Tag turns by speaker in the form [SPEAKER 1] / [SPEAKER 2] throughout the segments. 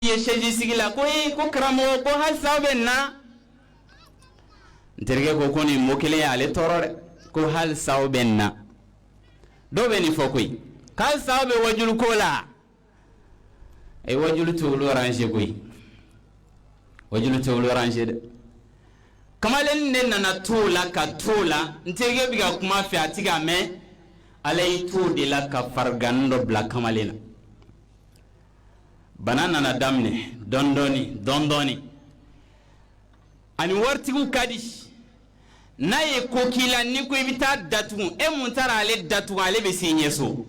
[SPEAKER 1] ye sɛzi sigi la ko ee ko karamɔgɔ ko halisa bɛ na n terikɛ ko ko nin mɔ kelen ye ale tɔɔrɔ dɛ ko halisa aw bɛ nin na dɔw bɛ nin fɔ koyi halisa aw bɛ waajuli ko la a ye waajuli t'olu ranze koyi waajuli t'olu ranze dɛ kamalen de nana to o la ka to o la n terikɛ bɛ ka kuma f'a ye a ti k'a mɛn ala y'i to o de la ka farigan dɔ bila kamalen na bana nana daminɛ dɔndɔɔni dɔndɔɔni ani waritigiw ka di n'a ye ko k'i la n'i ko i bɛ taa datugu e min taara ale datugu ale bɛ s'i ɲɛ so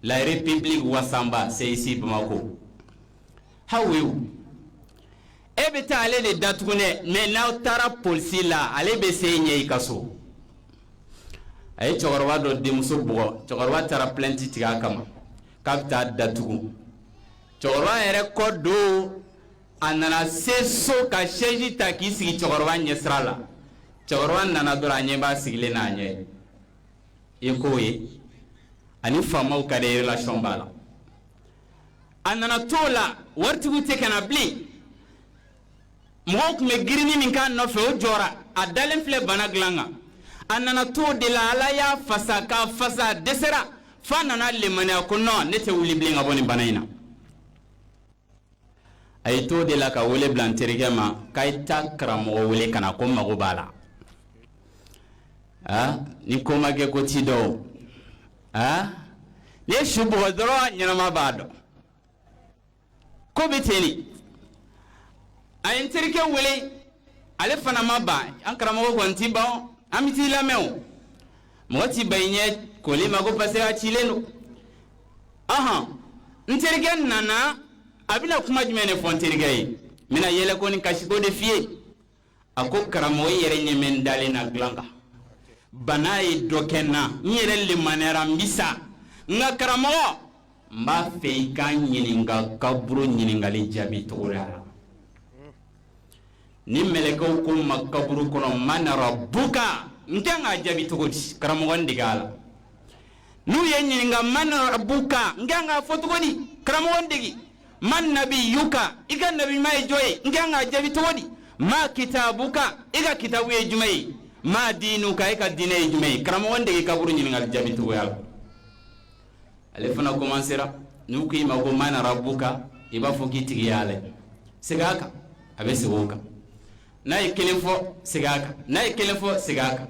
[SPEAKER 1] la république wasanba c'est ici Bamako hawew e bɛ taa ale de datugu dɛ mais n'aw taara polisi la ale bɛ s'i ɲɛ i ka so a ye cɛkɔrɔba dɔ denmuso bugɔ cɛkɔrɔba taara plainte tigɛ a kama k'a bɛ taa datugu cɛkɔrɔba yɛrɛ kɔ don a nana se so ka sɛzi ta k'i sigi cɛkɔrɔba ɲɛsira la cɛkɔrɔba nana dɔrɔn a ɲɛ b'a sigilen n'a ɲɛ i ko ye ani faamaw ka di relation b'a la a nana to o la waritigiw tɛ ka na bilen mɔgɔw tun bɛ girinni min k'a nɔfɛ o jɔra a dalen filɛ bana dilan kan a nana to o de la ala y'a fasa k'a fasa a dɛsɛra f'a nana limaniya ko non ne tɛ wuli bilen ka bɔ nin bana in na a y'i to o de la ka wele bila n terikɛ ma k'a ye taa karamɔgɔ wele ka na ko n mago b'a la aa ni ko ma kɛ ko ti dɔn o aa n'i ye su bugɔ dɔrɔn ɲɛnama b'a dɔn k'o bɛ ten a ye n terikɛ wele ale fana ma ban an karamɔgɔ kɔni ti ban an bɛ t'i lamɛn o mɔgɔ t'i ban i ɲɛ koli ma ko parce que a cilen don ɔhɔn n terikɛ nana a bɛna kuma jumɛn de fɔ n terikɛ ye n bɛna yɛlɛko ni kasiko de f'i ye a ko karamɔgɔ i yɛrɛ ɲɛ bɛ n dalen na dilan kan bana ye dɔ kɛ n na n yɛrɛ limaniyara n bi sa nka karamɔgɔ n b'a fɛ i ka n ɲininka kaburu ɲininkali jaabi cogoya la ni mɛlɛkɛw ko n ma kaburu kɔnɔ man rabuka n kan k'a jaabi cogo di karamɔgɔ n dege a la n'u ye n ɲininka man rabuka n kan k'a fɔ cogo di karamɔgɔ n dege man nabiyuka i ka nabima ye jɔn ye n kan k'a jaabi cogo di ma kitabuka i ka kitabu ye jumɛn ye ma diinuka i ka diinɛ ye jumɛn ye karamɔgɔ n dege kaburu ɲininkali jaabi cogoya la ale fana komansera n'u k'i ma ko man rabuka i b'a fɔ k'i tigi y'ala ye segin a kan a bɛ segin o kan n'a ye kelen fɔ segin a kan n'a ye kelen fɔ segin a kan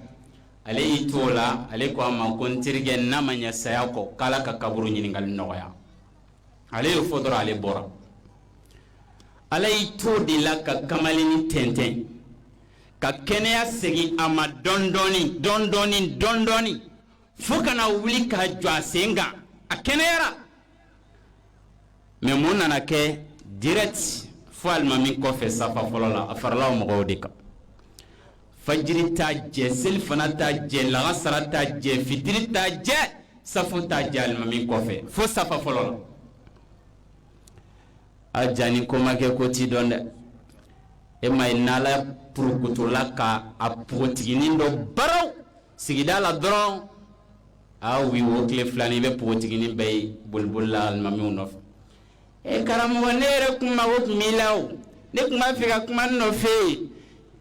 [SPEAKER 1] ale y'i to o la ale ko a ma ko n terikɛ n'a ma ɲɛ saya kɔ k'ala ka kaburu ɲininkali nɔgɔya ale y'o fɔ dɔrɔn ale bɔra ala y'i to de la ka kamalennin tɛntɛn ka kɛnɛya segin a ma dɔndɔɔni dɔndɔɔni dɔndɔɔni fo ka na wuli ka jɔ a sen kan a kɛnɛyara mɛ mun nana kɛ direct fo alimami kɔfɛ safa fɔlɔ la a farala o mɔgɔw de kan fajiri t'a jɛ selifana t'a jɛ lagansara t'a jɛ fitiri t'a jɛ safo t'a jɛ alimami kɔfɛ fo safa fɔlɔ la a jaa ni ko ma kɛ ko tɛ dɔn dɛ e m'a ye n'ala purukutula ka a pogotiginin dɔ baraw sigida la dɔrɔn a wi wo tile filani i bɛ pogotiginin bɛɛ ye boliboli la alimamiw nɔfɛ e karamɔgɔ ne yɛrɛ kun mago tun b'i la o ne tun b'a fɛ ka kuma n nɔfɛ yen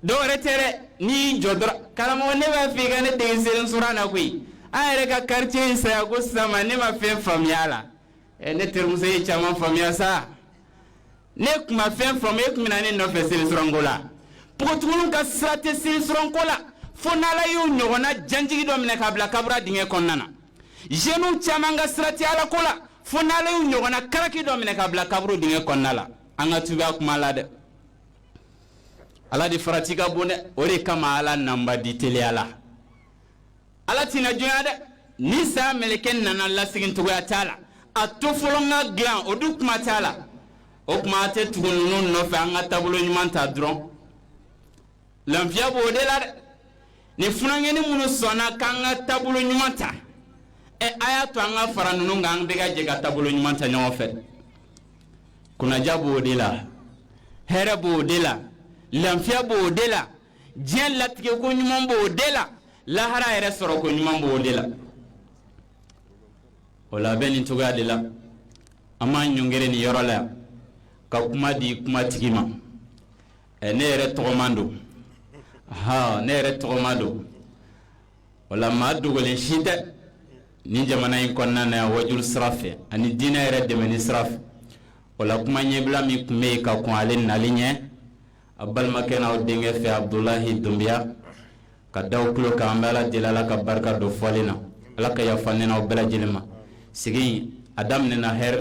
[SPEAKER 1] dɔwɛrɛ tɛ dɛ n'i y'i jɔ dɔrɔn karamɔgɔ ne b'a fɛ i ka ne dege seli suran na koyi an yɛrɛ ka quartier in saya ko sisan ma ne ma fɛn faamuya a la ɛ ne terimuso ye caman faamuya sa ne tun ma fɛn faamu e tun bɛ na ne nɔfɛ seli suran ko la npogotigininw ka sira tɛ seli suran ko la fo n'ala y'u ɲɔgɔnna janjigi dɔ minɛ k'a bila kaburu dingɛ kɔnɔna na jeunes caman ka sira tɛ alako la fo n'ale y'u ɲɔgɔnna karaki dɔ minɛ k'a bila kaburu dingɛ kɔnɔna la an ka tubi a kuma la dɛ ala de farati ka bon dɛ o de kama ala nanba di teliya la ala tɛna juguya dɛ ni saya meleke nana lasegin cogoya t'a la a to fɔlɔ n ka dilan o dun kuma t'a la o kuma a tɛ tugu ninnu nɔfɛ an ka taabolo ɲuman ta dɔrɔn lafiya b'o de la dɛ ni funankɛnin minnu sɔnna k'an ka taabolo ɲuman ta ɛ a y'a to an ka fara ninnu kan an bɛɛ ka jɛ ka taabolo ɲuman ta ɲɔgɔn fɛ kunnaja b'o de la hɛrɛ b'o de la lafiya b'o de la diɲɛ latigɛ ko ɲuman b'o de la lahara yɛrɛ sɔrɔ ko ɲuman b'o de la o la a bɛ nin cogoya de la an b'an ɲɔngiri nin yɔrɔ la yan ka kuma di kuma tigi ma Ɛ ne yɛrɛ tɔgɔman don hɔn ne yɛrɛ tɔgɔma don wala maa dogolen si tɛ nin jamana in kɔnɔna na yan waajuli sira fɛ ani diinɛ yɛrɛ dɛmɛni sira fɛ wala kuma ɲɛbila min tun bɛ yen ka kɔn ale nali ɲɛ a balimakɛ n'aw denkɛ fɛ abdulahi dunbiya k'a d'aw tulo kan an bɛ ala deli ala ka barika don fɔlen na ala ka yafa an n'aw bɛɛ lajɛlen ma sigi a daminɛna hɛrɛ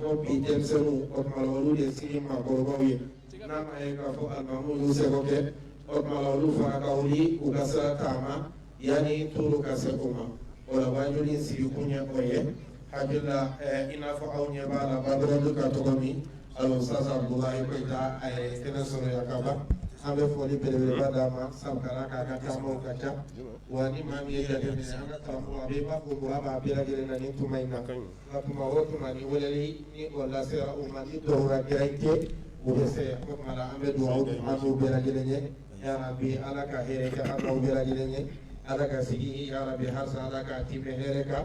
[SPEAKER 1] bɔ bi denmisɛnninw o tuma la olu de sini maakɔrɔbaw ye n'a m'a ye k'a fɔ alimamiw y'u seko kɛ o tuma la olu fana ka wuli u ka sira taama yanni tɔɔrɔ ka se u ma o la waajuli in sigi kun ye o ye hakili la i n'a fɔ aw ɲɛ b'a la banderole bɛ ka tɔgɔ min al oustaz Abdoulaye Koita a ye kɛnɛ sɔrɔ yan ka ban an bɛ foli belebeleba d'a ma sabu k'a da kan a ka taamaw ka ca wa ni maa min y'a jateminɛ an ka karamɔgɔ a bɛ i b'a fɔ mago b'a bɛɛ lajɛlen na nin tuma in na nka tuma o tuma ni weleli ni o lasera u ma ni dɔwɛrɛ gɛlɛya tɛ o bɛ se o tuma na an bɛ dugawu kɛ an n'u bɛɛ lajɛlen ye yarabi ala ka hɛrɛ kɛ an n'aw bɛɛ lajɛlen ye ala ka sigi yarabi halisa ala ka tɛmɛ hɛrɛ kan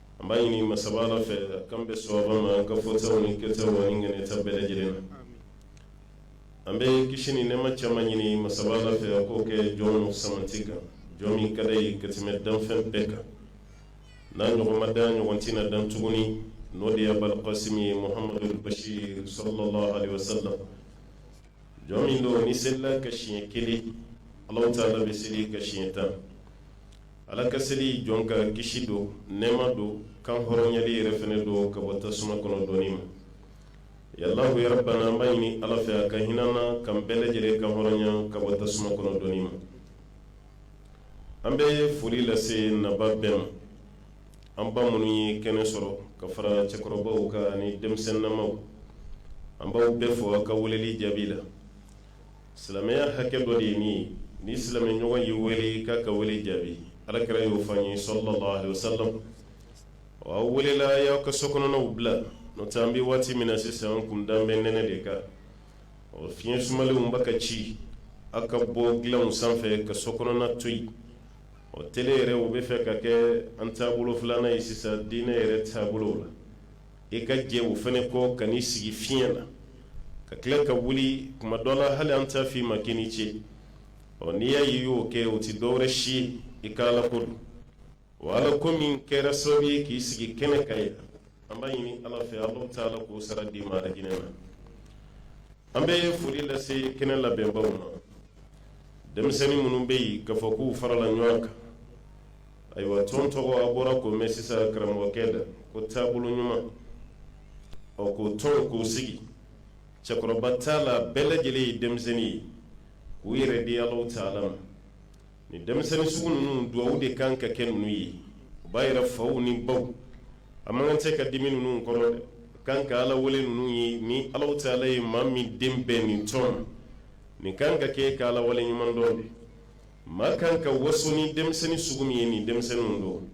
[SPEAKER 1] an b'a ɲini masa fɛ k'an bɛ sɔrɔ ma an ka fɔta ni kɛ ŋɛnɛta bɛɛ lajɛlen na an bɛ kisi ni nɛma caman ɲini masa fɛ a k'o kɛ jɔn samati kan jɔn min ka d'a ye ka tɛmɛ danfɛn bɛɛ kan n'a ɲɔgɔn ma dan a ɲɔgɔn tɛ na dan tuguni n'o de ye abulkasimi ye muhamadu basiru sallallahu alaihi wasallam jɔn min don n'i selila a kan siɲɛ kelen ala taala bɛ seli i kan siɲɛ tan ala ka seli jɔn kan kisi don nɛɛma don kan hɔrɔnyali yɛrɛ fɛnɛ don ka bɔ tasuma kɔnɔ donni ma ya alahu yarabana an b'a ɲini ala fɛ a ka hin'an na k'an bɛɛ lajɛlen kan hɔrɔnya ka bɔ tasuma kɔnɔ donni ma an bɛ foli lase nabaa bɛɛ ma an ba minnu ye kɛnɛ sɔrɔ ka fara cɛkɔrɔbaw kan ani denmisɛnninamaw an b'aw bɛɛ fo aw ka weleli jaabi la silamɛya hakɛ dɔ de ye nin ye n'i silamɛɲɔgɔn y'i wele i k'a ka wele jaabi alakira y'o fɔ an ye sallallahu alaihi wasallam wa aw welela aw y'aw ka so kɔnɔnaw bila n'o tɛ an bɛ waati min na sisan an kun dalen bɛ nɛnɛ de kan ɔ fiɲɛ sumalenw b'a ka ci aw ka bɔ dilanw sanfɛ ka so kɔnɔna to yen ɔ tele yɛrɛ o bɛ fɛ ka kɛ an taabolo filanan ye sisan diinɛ yɛrɛ taabolo la i ka jɛ o fana kɔ ka n'i sigi fiɲɛ na ka tila ka wuli kuma dɔ la hali an t'a fɔ i ma k'i ni ce ɔ n'i y'a ye i y'o kɛ o tɛ dɔwɛrɛ si i ka ala ko don o ala ko min kɛra sababu ye k'i sigi kɛnɛ kan yen an b'a ɲini ala fɛ ala taala k'o sara d'i ma arijinɛ na an bɛ foli lase kɛnɛ labɛnbaw ma denmisɛnnin minnu bɛ yen k'a fɔ k'u farala ɲɔgɔn kan ayiwa tɔn tɔgɔ a bɔra k'o mɛn sisan karamɔgɔkɛ da ko taabolo ɲuman ɔ ko tɔn k'o sigi cɛkɔrɔba t'a la a bɛɛ lajɛlen ye denmisɛnnin ye k'u yɛrɛ di alahu taala ma nin denmisɛnnin sugu ninnu duwawu de kan ka kɛ ninnu ye u b'a yɛrɛ faw ni baw a man kan de ka dimi ninnu kɔrɔ dɛ kan ka ala wele ninnu ye ni alahu taala ye maa min den bɛ nin tɔn nin kan ka kɛ ka ala wale ɲuman dɔn de maa kan ka waso ni denmisɛnnin sugu min ye nin denmisɛnninw don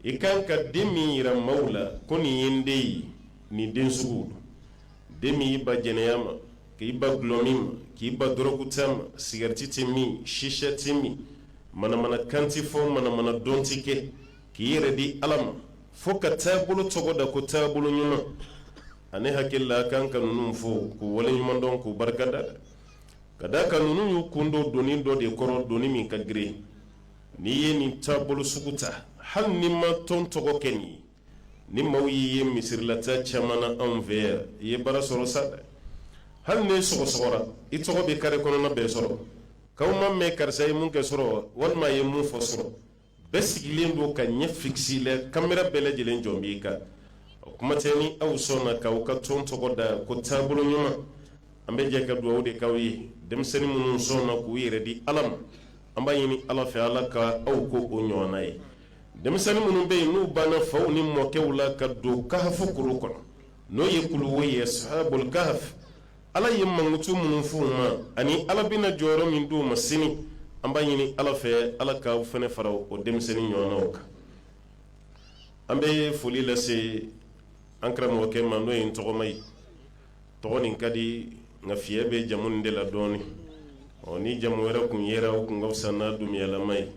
[SPEAKER 1] i kan ka den min yira maaw la ko nin ye n den ye nin den sugu don den min y'i ban jɛnɛya ma k'i ban gulɔmin ma k'i ban dɔrɔguta ma sigarɛti tɛ min sisa tɛ min manamana kan tɛ fɔ manamana dɔn tɛ kɛ k'i yɛrɛ di ala ma fo ka taabolo tɔgɔ da ko taabolo ɲuman ani hakili la an kan ka ninnu fo k'u wale ɲuman dɔn k'u barika da ka d'a kan ninnu y'u kun don doni dɔ de kɔrɔ doni min ka girin n'i ye nin taabolo sugu ta hali n'i ma tɔn tɔgɔ kɛ nin ni maaw y'i ye misirilataa caman na anw fɛ yan i ye baara sɔrɔ sa dɛ hali n'i sɔgɔsɔgɔra i tɔgɔ bɛ kare kɔnɔna bɛɛ sɔrɔ k'aw m'a mɛn karisa ye mun kɛ surɔ walima a ye mun fɔ surɔ bɛɛ sigilen don k'a ɲɛ fikisi i la kamera bɛɛ lajɛlen jɔlen b'i kan o kuma tɛ ni aw sɔnna k'aw ka tɔn tɔgɔ da ko taabolo ɲuman an bɛ jɛ ka dugawu de k'aw ye denmisɛnnin minnu sɔnna k'u yɛrɛ di ala ma an b'a ɲini ala fɛ ala ka aw kɛ o ɲɔgɔnna ye denmisɛnnin minnu bɛ yen n'u banna u faw ni mɔkɛw la ka don kahafu kulu kɔnɔ n'o ye kuluwo ye sahabul kahaf ala ye mankutu minnu fɔ u ma ani ala bɛna jɔyɔrɔ min d'u ma sini an b'a ɲini ala fɛ ala k'aw fana fara o denmisɛnnin ɲɔgɔnw kan an bɛ foli lase an karamɔgɔkɛ ma n'o ye n tɔgɔma ye tɔgɔ nin ka di nka fiɲɛ bɛ jamu nin de la dɔɔnin ɔ ni jamu wɛrɛ tun yɛrɛ o tun ka fisa n'a dunbuyalama ye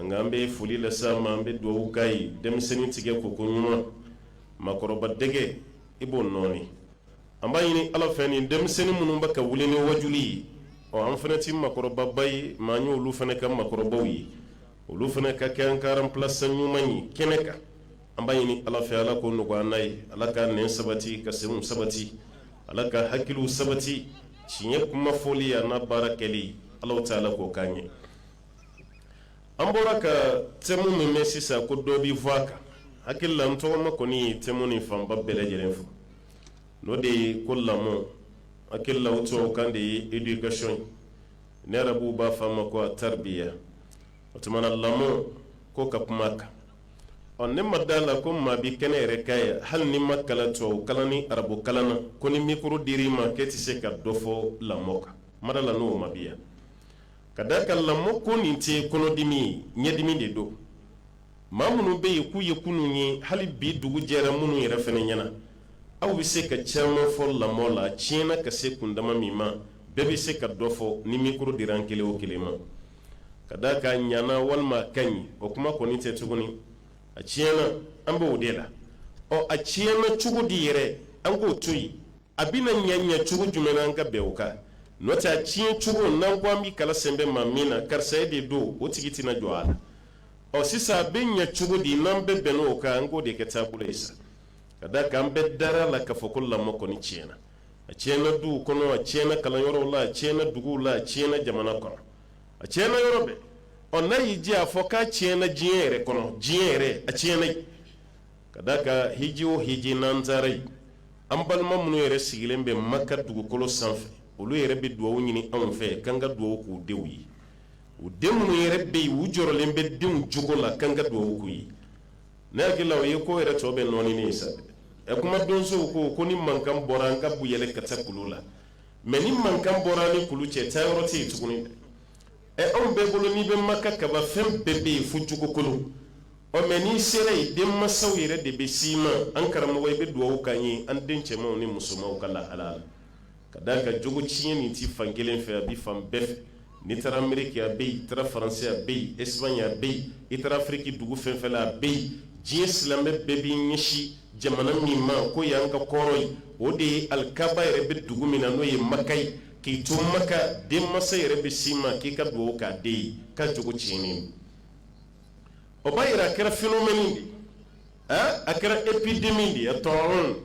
[SPEAKER 1] nka an bɛ foli lase a ma an bɛ dugawu k'a ye denmisɛnnin tigɛ koko ɲuman makɔrɔba dɛgɛ i b'o nɔɔni an b'a ɲini ala fɛ nin denmisɛnnin minnu bɛ ka wuli ni waju ye ɔ an fana tɛ makɔrɔbaba ye mɛ an ye olu fana ka makɔrɔbaw ye olu fana ka kɛ an ka aranplasan ɲuman ye kɛnɛ kan an b'a ɲini ala fɛ ala k'o nɔgɔya an ye ala k'an sabati ka segu sabati ala ka hakili sabati tiɲɛ kuma fɔli yan n'a baara kɛli ala tɛ ala k'o k'an ye an bɔra ka tɛmu min bɛ sisan ko dɔ bɛ fɔ a kan n hakili la n tɔgɔma kɔni ye tɛmu nin fanba bɛɛ lajɛlen fɔ o de ye ko lamɔ n hakili la o tubabukan de ye edikasɔn ye ni arabuw b'a fɔ a ma ko ataribiya o tuma na lamɔ ko ka kuma a kan ɔ ne ma da a la ko maa bɛ kɛnɛ yɛrɛ kan yan hali n'i ma kalan tubabu kalan ni arabu kalan na ko ni mikoro dira i ma k'e tɛ se ka dɔ fɔ lamɔ kan n ma da a la n'o maa bɛ yan ka d'a kan lamɔ ko nin tɛ kɔnɔdimi ye ɲɛdimi de don maa minnu bɛ yen k'u ye kunun ye hali bi dugu jɛra minnu yɛrɛ fana ɲɛ na aw bɛ se ka caman fɔ lamɔ la a tiɲɛna ka se kundama min ma bɛɛ bɛ se ka dɔ fɔ ni mikoro dira an kelen o kelen ma ka d'a kan a ɲana walima a ka ɲi o kuma kɔni tɛ tuguni a tiɲɛna an b'o de la ɔ a tiɲɛna cogo di yɛrɛ an k'o to yen a bɛna ɲɛ ɲɛ cogo jumɛn an ka bɛn o kan n'o tɛ a tiɲɛ cogo n'an ko an bɛ kala sɛnbɛ maa min na karisa ye de don o tigi tɛna jɔ a la ɔ sisan a bɛ ɲɛ cogo di n'an bɛ bɛn o kan an k'o de kɛ taabolo ye sa ka da kan bɛɛ dara a la ka fɔ ko lamɔ kɔni tiɲɛna a tiɲɛna duw kɔnɔ a tiɲɛna kalanyɔrɔw la a tiɲɛna duguw la a tiɲɛna jamana kɔnɔ a tiɲɛna yɔrɔ bɛɛ ɔ n'a y'i diya a fɔ k'a tiɲɛna diɲɛ yɛrɛ kɔnɔ diɲɛ yɛrɛ a tiɲɛna ka da a kan hiji o hiji n'an taara yen an balima minnu yɛrɛ sigilen bɛ maka dugukolo sanfɛ olu yɛrɛ bɛ dugawu ɲini anw fɛ k'an ka dugawu k'u denw ye u den minnu yɛrɛ bɛ yen u jɔrɔlen bɛ denw jogo la k'an ka dugawu k'u ye ne hakili la o ye ko yɛrɛ tɔ bɛɛ nɔɔni ye sa ɛ kuma donsow ko ko ni mankan bɔra an ka bu yɛlɛ ka taa kulu la mɛ ni mankan bɔra ni kulu cɛ taa yɔrɔ tɛ yen tuguni ɛ anw bɛɛ bolo n'i bɛ maka kaba fɛn bɛɛ bɛ yen fo jogo kolon ɔ mɛ n'i sera yen denmansaw yɛrɛ de bɛ s'i ma an karamɔgɔ i bɛ dugawu k'an ye an den cɛmanw ni musomanw ka lahala la ka d'a kan jogo tiɲɛ nin tɛ fan kelen fɛ a bɛ fan bɛɛ fɛ n'i taara ameriki a bɛ yen i taara faransi a bɛ yen espagne a bɛ yen i taara afiriki dugu fɛn fɛn la a bɛ yen diɲɛ silamɛ bɛɛ b'i ɲɛsin jamana min ma k'o y'an ka kɔrɔn ye o de ye alikaba yɛrɛ bɛ dugu min na n'o ye maka ye k'i to maka denmansa yɛrɛ bɛ s'i ma k'i ka dugawu k'a den ye k'a jogo tiɲɛnen o b'a yira a kɛra phénomène de a kɛra épidémie de ye tɔɔrɔ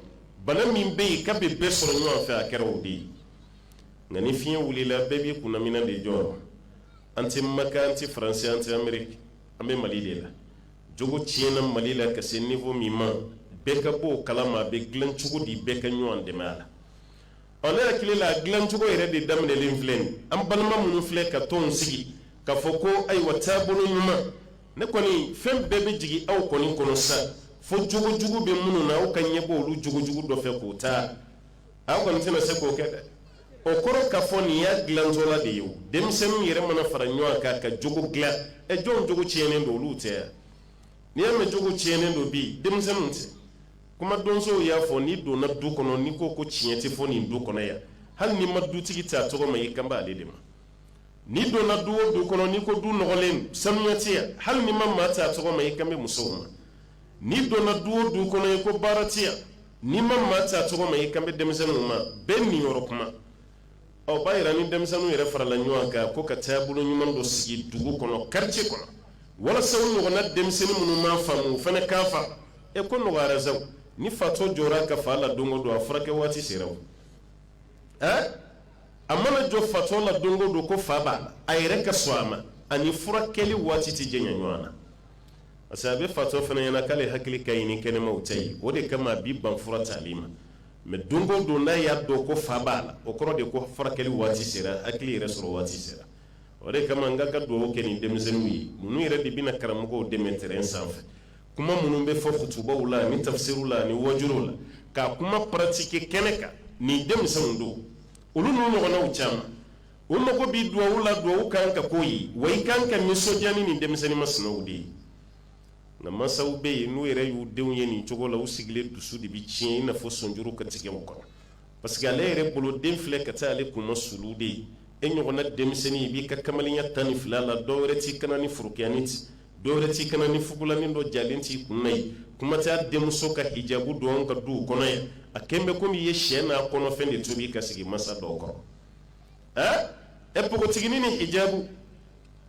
[SPEAKER 1] bana min bɛ yen ka bɛ bɛɛ sɔrɔ ɲɔgɔn fɛ a kɛra o de ye nka ni fiɲɛ wulila bɛɛ b'i kunnaminan de jɔrɔ an tɛ maka an tɛ faransi an tɛ ameriki an bɛ mali de la jogo tiɲɛna mali la ka se niveau min ma bɛɛ ka bɔ o kalama a bɛ dilan cogo di bɛɛ ka ɲɔgɔn dɛmɛ a la Ɔ ne hakili la dilancogo yɛrɛ de daminɛlen filɛ nin ye, an balima minnu filɛ ka tɔnw sigi ka fɔ ko ayiwa taabolo ɲuman, ne kɔni fɛn bɛɛ bɛ jigin aw kɔni kɔnɔ sisan, fo jogo jugu bɛ minnu na aw ka ɲɛbɔ olu jogo jugu dɔ fɛ k'o ta, aw kɔni tɛna se k'o kɛ dɛ, o kɔrɔ k'a fɔ nin y'a dilantɔla de ye o, denmisɛnninw yɛrɛ mana fara ɲɔgɔn kan ka jogo dilan, ɛ jɔnw jogo tiɲɛnen don olu tɛ wa? N'i y'a mɛn jogo tiɲɛnen don bi denmisɛnninw tɛ kuma donsow y'a fɔ n'i donna du kɔnɔ n'i ko ko tiɲɛ tɛ fɔ nin du kɔnɔ yan hali n'i ma dutigi ta tɔgɔ ma i kan b'ale de ma n'i donna du o du kɔnɔ n'i ko du nɔgɔlen sanuya tɛ yan hali n'i ma maa ta tɔgɔ ma i kan bɛ musow ma n'i donna du o du kɔnɔ i ko baara tɛ yan n'i ma maa ta tɔgɔ ma i kan bɛ denmisɛnninw ma bɛɛ niyɔrɔ kuma o b'a yira ni denmisɛnninw yɛrɛ farala ɲɔgɔn kan ko ka taabolo ɲuman dɔ sigi dugu kɔnɔ quartier kɔnɔ walasa u ɲɔgɔnna denmisɛnnin minnu m'a faamu u fana k'a faamu e ko nɔgɔyara sa ni fatɔ jɔra a ka fa la don o don a furakɛ waati sera o ɛɛ a mana jɔ fatɔ la don o don ko fa b'a la a yɛrɛ ka sɔn a ma ani furakɛli waati tɛ janya ɲɔgɔn na parce que a bɛ fatɔ fana ɲɛna k'ale hakili ka ɲi ni kɛnɛmaw ta ye o de kama a b'i ban fura tali ma mɛ don don n'a y'a dɔn ko fa b'a la o kɔrɔ de ko furakɛli waati sera hakili yɛrɛ sɔrɔ waati sera o de kama an ka dugawu kɛ ni denmisɛnninw ye ninnu yɛrɛ de bɛna karamɔgɔw dɛmɛ terrain sanfɛ kuma minnu bɛ fɔ kutubaw la ni tafisiriw la ni waajuliw la ka kuma paratike kɛnɛ kan nin denmisɛnw don olu ninnu ɲɔgɔnnaw caman u mago bɛ dugawu la dugawu kan ka k'u ye wa i kan ka nisɔndiya ni nin denmisɛnnin masinaw de ye nka masaw bɛ yen n'u yɛrɛ y'u denw ye nin cogo la u sigilen dusu de bɛ tiɲɛ i n'a fɔ sɔnjuru ka tigɛ u kɔnɔ parce que ale yɛrɛ bolo den filɛ ka taa ale kunmasuli de ye e ɲɔgɔnna denmisɛnnin i b'i ka kamalenya tan ni fila la dɔ wɛrɛ t'i kan na ni forokiyanin tɛ dɔ wɛrɛ t'i kan na ni fugulanin dɔ jalen t'i kun ye kuma tɛ denmuso ka hijabu don ka du u kɔnɔ ye a kɛlen bɛ komi i ye sɛ n'a kɔnɔfɛn de tobi ka sigi masa dɔw kɔrɔ ɛ e npogotiginin ni hijabu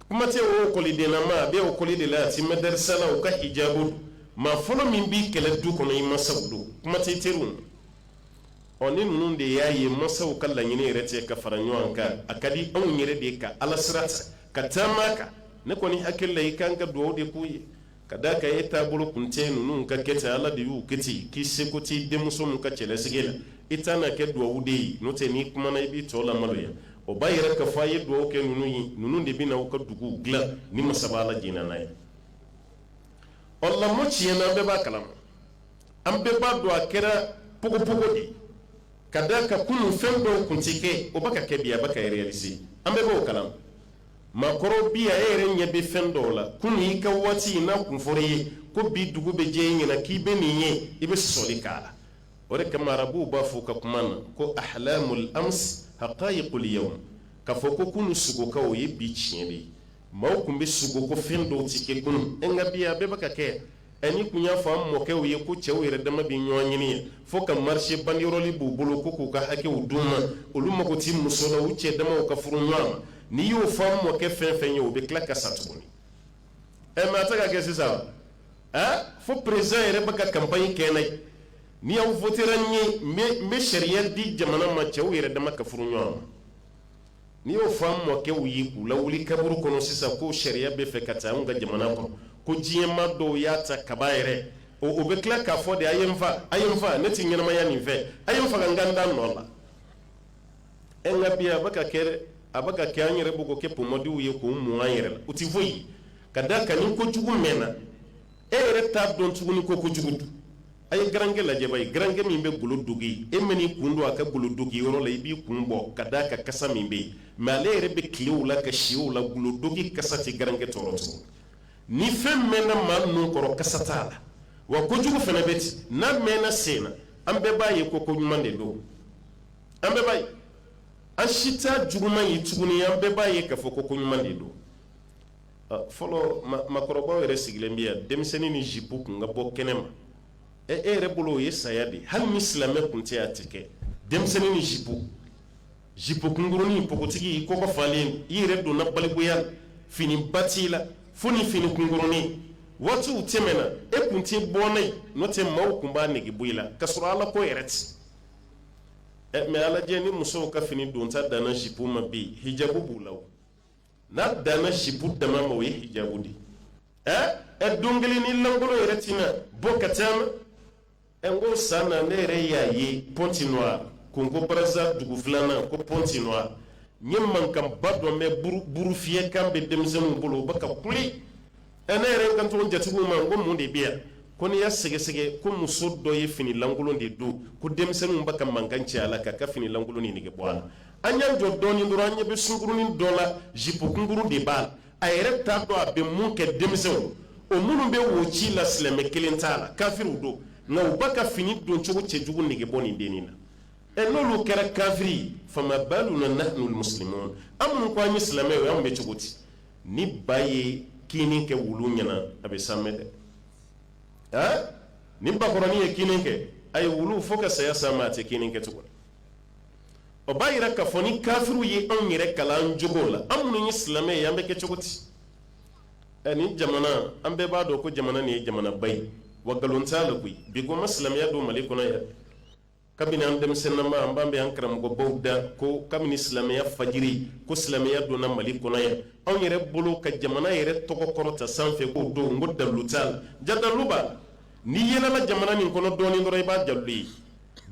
[SPEAKER 1] kuma tɛ ekɔlidenlama a bɛ ekɔli de la a tɛ mɛdɛrɛsa la o ka hijabu don maa fɔlɔ min b'i kɛlɛ du kɔnɔ i masaw don kuma tɛ teriw ɔ ni ninnu de y'a ye masaw ka laɲini yɛrɛ cɛ ka fara ɲɔgɔn kan a ka di anw yɛrɛ de ka ala sira ta ka taama a kan ne kɔni hakilila i kan ka dugawu de k'u ye Ka d'a kan e taabolo kun cɛ ninnu ka kɛ cɛ ala de y'o kɛ k'i seko tɛ denmuso min ka cɛlasigi la i ta kɛ dugawu de ye n'o tɛ n'i kuma i bɛ tɔ lamaloya o b'a yira k'a fɔ a ye dugawu kɛ ninnu ye ninnu de bɛna anw ka dugu dilan ni masaba ala jɛnna n'a ye ɔ lamɔ tiɲɛna an bɛɛ b'a kala ma an bɛɛ b'a dɔn a kɛra ppogo de ka d'a kan kunu fɛn dɔw kun tɛ kɛ o bɛ ka kɛ bi a bɛ ka yira an bɛɛ b'o kala ma maakɔrɔ bi a e yɛrɛ ɲɛ bɛ fɛn dɔw la kunu i ka waati n'a kun fɔr'i ye ko bi dugu bɛ jɛ i ɲɛ na k'i bɛ nin ye i bɛ sɔli k'a la o de kama arabuw b'a fɔ u ka kuma na ko ahlamul ams haqaiqul yawm k'a fɔ ko kunu sugokaw o ye bi tiɲɛ de ye maaw tun bɛ sugo ko fɛn dɔw tɛ kɛ kunu nka bi a bɛɛ bɛ ka kɛ Ɛɛ n'i tun y'a fɔ an mɔkɛw ye ko cɛw yɛrɛ dama bɛ ɲɔgɔn ɲini ye fo ka marcher banderole b'u bolo ko k'u ka hakɛw d'u ma, olu mago tɛ muso la, u cɛ damaw ka furu ɲɔgɔn ma, n'i y'o fɔ an mɔkɛ fɛn o fɛn ye, o bɛ tila ka sa tuguni, ɛɛ mais a tɛ ka kɛ sisan, ɛɛ fo président yɛrɛ bɛ ka campagne kɛ n'a ye, ni aw votera n ye, n bɛ sariya di jamana ma cɛw yɛrɛ dama ka furu ɲɔgɔn ma. N'i y'o fɔ an mɔkɛw ye k'u lawuli kaburu kɔnɔ sisan ko sariya bɛ fɛ ka ta anw ka jamana kɔnɔ ko diɲɛmaa dɔw y'a ta kaba yɛrɛ o o bɛ tila k'a fɔ de a ye n faa a ye n faa ne tɛ ɲɛnamaya nin fɛ a ye n faga n ka n da nɔ la ɛ nka bi a bɛ ka kɛ dɛ a bɛ ka kɛ an yɛrɛ bɛ k'o kɛ pomadiw ye k'o mun an yɛrɛ la o tɛ foyi ka d'a kan ni kojugu mɛnna e yɛrɛ t'a dɔn tuguni ko ko jugu don a ye garankɛ lajɛ ba ye garankɛ min bɛ golo dogi e man'i kun don a ka golo dogi yɔrɔ la i b'i kun bɔ ka d'a kan kasa min bɛ yen mɛ ale yɛrɛ bɛ tilen o la ka si o la golo dogi kasa tɛ garankɛ tɔɔrɔ tuguni ni fɛn mɛnna maa nun kɔrɔ kasa t'a la wa kojugu fana bɛ ten n'a mɛnna sen na an bɛɛ b'a ye ko ko ɲuman de don an bɛɛ b'a ye an si t'a juguman ye tuguni an bɛɛ b'a ye k'a fɔ ko ko ɲuman de don fɔlɔ makɔrɔba yɛrɛ sigilen bɛ yan denmisɛnnin ni zip kun ka bɔ kɛnɛ ma e yɛrɛ bolo o ye saya de hali ni silamɛ tun tɛ tɛ kɛ denmisɛnnin ni zip zip kunkurunin npogotigi kɔ falen i yɛrɛ donna na balikuya fini ba t'i la fo ni fini kunkurunin waatiw tɛ na e tun tɛ bɔ dɛ n'o tɛ maaw tun b'a nɛgɛ bɔ i la ka sɔrɔ ala ko yɛrɛ tɛ mɛ a lajɛ ni musow ka fini donta dan zip ma bi hijabu b'u la n'a dan bɛ zipu dama ma o ye hijabu de ye ɛ ɛ don kelen n'i lankolon yɛrɛ tɛna bɔ ka taama ɛ n ko san na ne yɛrɛ y'a ye pointe-noire congo brazza dugu filanan ko pointe-noire n ye mankanba dɔ mɛn buru fiyɛ kan bɛ denmisɛnninw bolo u bɛ ka kule ɛ ne yɛrɛ kanto jatigiw ma ko mun de bɛ yan ko n'i y'a sɛgɛsɛgɛ ko muso dɔ ye finilankolon de don ko denmisɛnninw ba ka mankan ci a la k'a ka finilankolon nin nɛgɛ bɔ a la an y'an jɔ dɔɔnin dɔrɔn an ɲɛ bɛ sunkurunin dɔ la jip kunkurun de b'a la a yɛrɛ t'a dɔn a bɛ mun kɛ denmisɛnw o minnu bɛ wo ci la silamɛ kelen t'a la kafiriw don nka u ba ka fini doncogo cɛjugu nɛgɛ bɔ nin dennin na ɛ n'olu kɛra kafiri ye faamaba ninnu na na musoman an minnu ko an ye silamɛ ye anw bɛ cogo di ni ba ye kin kɛ wulu ɲɛ na a bɛ sa dɛ a ni bakɔrɔnin ye kin kɛ a ye wulu fo ka saya san ma a tɛ kin kɛ tuguni o b'a jira k'a fɔ ni kafiriw ye anw yɛrɛ kalan cogo la an minnu ye silamɛ ye an bɛ kɛ cogo di ɛ nin jamana an bɛɛ b'a dɔn ko jamana nin ye jamanaba ye wa nkalon t'a la koyi bi ko ma silamɛya don mali kɔnɔ yan kabini an denmisɛnnama an b'a mɛn an karamɔgɔbaw da ko kabini silamɛya fajiri ko silamɛya donna mali kɔnɔ yan anw yɛrɛ bolo ka jamana yɛrɛ tɔgɔ kɔrɔta sanfɛ k'o don ko dalu t'a la jaa daluba n'i yaalala jamana nin kɔnɔ dɔɔnin dɔrɔn i b'a dalu ye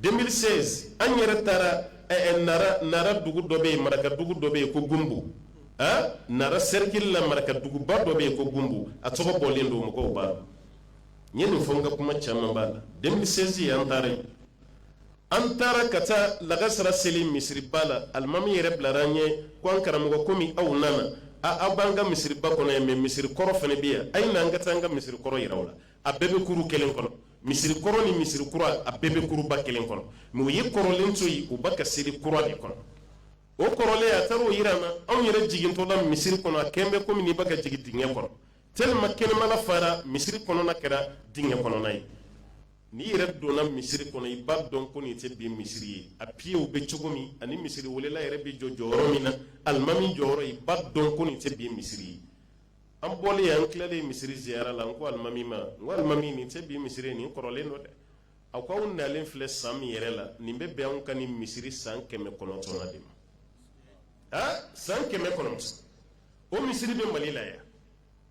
[SPEAKER 1] 2016 an yɛrɛ taara eh, eh, nara nara dugu dɔ bɛ yen maraka dugu dɔ bɛ yen ko gumbu ah, nara sɛrikili la maraka duguba dɔ bɛ yen ko gumbu a tɔgɔ bɔlen don mɔgɔw b'a n ye nin fɔ n ka kuma caman b'a la 2016 ye an taara yen an taara ka taa lagasara seli misiriba la alimami yɛrɛ bilara an ɲɛ ko an karamɔgɔ komi aw nana a aw b'an ka misiriba kɔnɔ yan mɛ misiri kɔrɔ fana bɛ yan a ye na an ka taa an ka misiri kɔrɔ yira aw la a bɛɛ bɛ kuru kelen kɔnɔ misiri kɔrɔ ni misiri kura a bɛɛ bɛ kuruba kelen kɔnɔ mɛ u ye kɔrɔlen to yen u ba ka seli kura de kɔnɔ o kɔrɔlen a taara o yira an na anw yɛrɛ jigintɔla misiri kɔnɔ a kɛlen bɛ komi n'i ba ka jigin dingɛ kɔnɔ tellement kɛnɛmana fara misiri kɔnɔna kɛra dingɛ kɔnɔna ye n'i yɛrɛ donna misiri kɔnɔ i b'a dɔn ko nin tɛ bi misiri ye a piyew bɛ cogo min ani misiri welela yɛrɛ bɛ jɔ jɔyɔrɔ min na alimami jɔyɔrɔ i b'a dɔn ko nin tɛ bi misiri ye an bɔlen an tilalen misiri ziyara la n ko alimami ma n ko alimami nin tɛ bi misiri ye nin kɔrɔlen don dɛ a ko aw nalen filɛ san min yɛrɛ la nin bɛ bɛn anw ka nin misiri san kɛmɛ kɔnɔntɔnnan de ma a san kɛmɛ kɔnɔntɔn o misiri bɛ mali la yan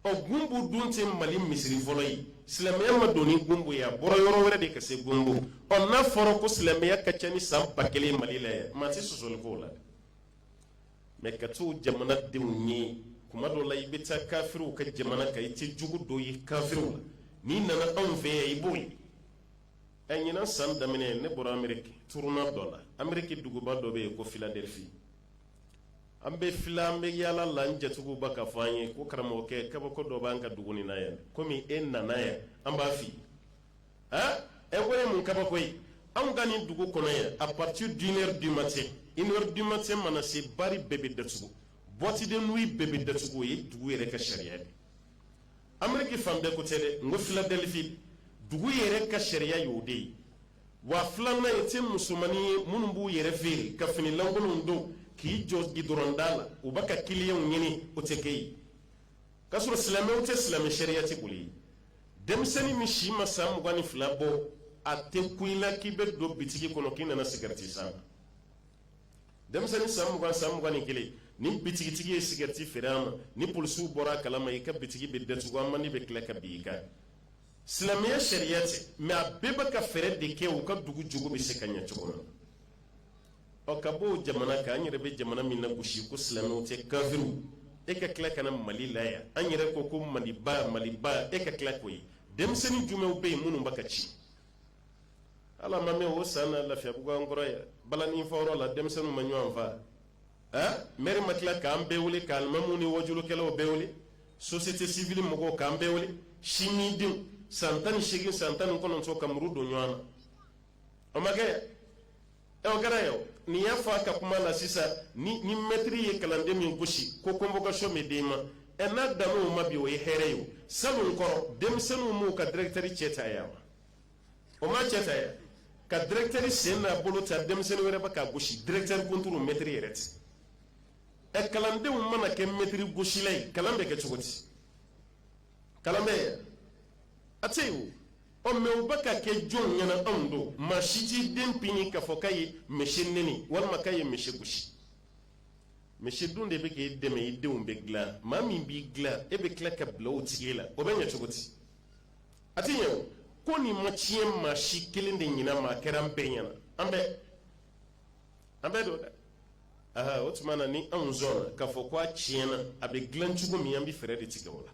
[SPEAKER 1] ɔ gunbu dun tɛ mali misiri fɔlɔ ye silamɛya ma don ni gunbu ye a bɔra yɔrɔ wɛrɛ de ka se gunbu ɔ n'a fɔra ko silamɛya ka ca ni san ba kelen ye mali la yan maa tɛ sɔsɔli k'o la mɛ ka to jamana denw ye kuma dɔ la i bɛ taa kafiriw ka jamana kan i tɛ jogo dɔ ye kafiriw la n'i nana anw fɛ yan i b'o ye ɛ ɲinan san daminɛ ne bɔra ameriki tournée dɔ la ameriki duguba dɔ bɛ yen ko filadelfi an bɛ fila an bɛ yaala la n jatigiw bɛ k'a fɔ an ye ko karamɔgɔkɛ kabako dɔ b'an ka dugu nin na yan komi e nana yan an b'a filɛ ɛ k'o ye mun kabako ye anw ka nin dugu kɔnɔ ye à partir d'une heure du matin une heure du matin mana se bari bɛɛ bɛ datugu boîte de nuit bɛɛ bɛ datugu o ye dugu yɛrɛ ka sariya ye ameriki fan bɛɛ ko tɛ dɛ n ko filadelfi dugu yɛrɛ ka sariya y'o de ye wa filanan i tɛ musomannin ye minnu b'u yɛrɛ feere ka finilankolonw don k'i jɔ gidɔrɔnda la u bɛ ka kiliyanw ɲini o tɛ kɛ yen k'a sɔrɔ silamɛw tɛ silamɛ sariya tɛ boli yen denmisɛnnin min si ma san mugan ni fila bɔ a tɛ kun i la k'i bɛ don bitigi kɔnɔ k'i nana sigarɛti san denmisɛnnin san mugan san mugan ni kelen ni bitigitigi ye sigarɛti feere a ma ni polisiw bɔra a kala ma i ka bitigi bɛ datugu amandi bɛ tila ka bin i kan silamɛya sariya tɛ mɛ a bɛɛ bɛ ka fɛɛrɛ de kɛ u ka dugu jogo bɛ se ka ɲɛ cogo min na ɔ ka b'o jamana kan an yɛrɛ bɛ jamana min nagosi ko silamɛw tɛ kafiriw e ka tila ka na mali la yan an yɛrɛ ko ko maliba maliba e ka tila k'o ye denmisɛnnin jumɛnw bɛ yen minnu bɛ ka ci ala ma mɛ o san lafiyabugu kɔrɔ ye balanin fɔyɔrɔ la denmisɛnnin ma ɲɔgɔn faa m ma tila k'an bɛɛ wuli k'alimamiw ni wajukɛlaw bɛɛ wuli société civile mɔgɔw k'an bɛɛ wuli si min denw san tan ni segin san tan ni kɔnɔntɔn ka muru don ɲɔgɔn na o ma kɛ kɛra ye nin y'a fɔ a ka kuma na sisan ni mɛtiri ye kalanden min gosi ko convocation den ma ɛ n'a dan ma bi o ye hɛrɛ ye sabu kɔrɔ denmisɛnninw b'u ka dirɛkitɛri cɛ ta yan wa o ma cɛ fɛ ka dirɛkitɛri sen n'a bolo ta denmisɛnnin wɛrɛ bɛ ka gosi dirɛkitɛri kunturu mɛtiri yɛrɛ ti ɛ kalandenw mana kɛ mɛtiri gosila ye kalan bɛ kɛ cogo di kalan bɛ yan a tɛ yen o ɔ mɛ u bɛ ka kɛ jɔnw ɲɛna anw don maa si t'i den pini k'a fɔ k'a ye misi neni walima k'a ye misi gosi misi dun de bɛ k'i dɛmɛ i denw bɛ dilan maa min b'i dilan e bɛ tila ka bila o tigi la o bɛ ɲɛ cogo di a tɛ ɲɛ ko nin ma tiɲɛ maa si kelen de ɲɛna a kɛra an bɛɛ ɲɛna an bɛɛ an bɛɛ don dɛ aa o tuma na ni anw sɔnna k'a fɔ ko a tiɲɛna a bɛ dilan cogo min an bɛ fɛɛrɛ de tigɛ o la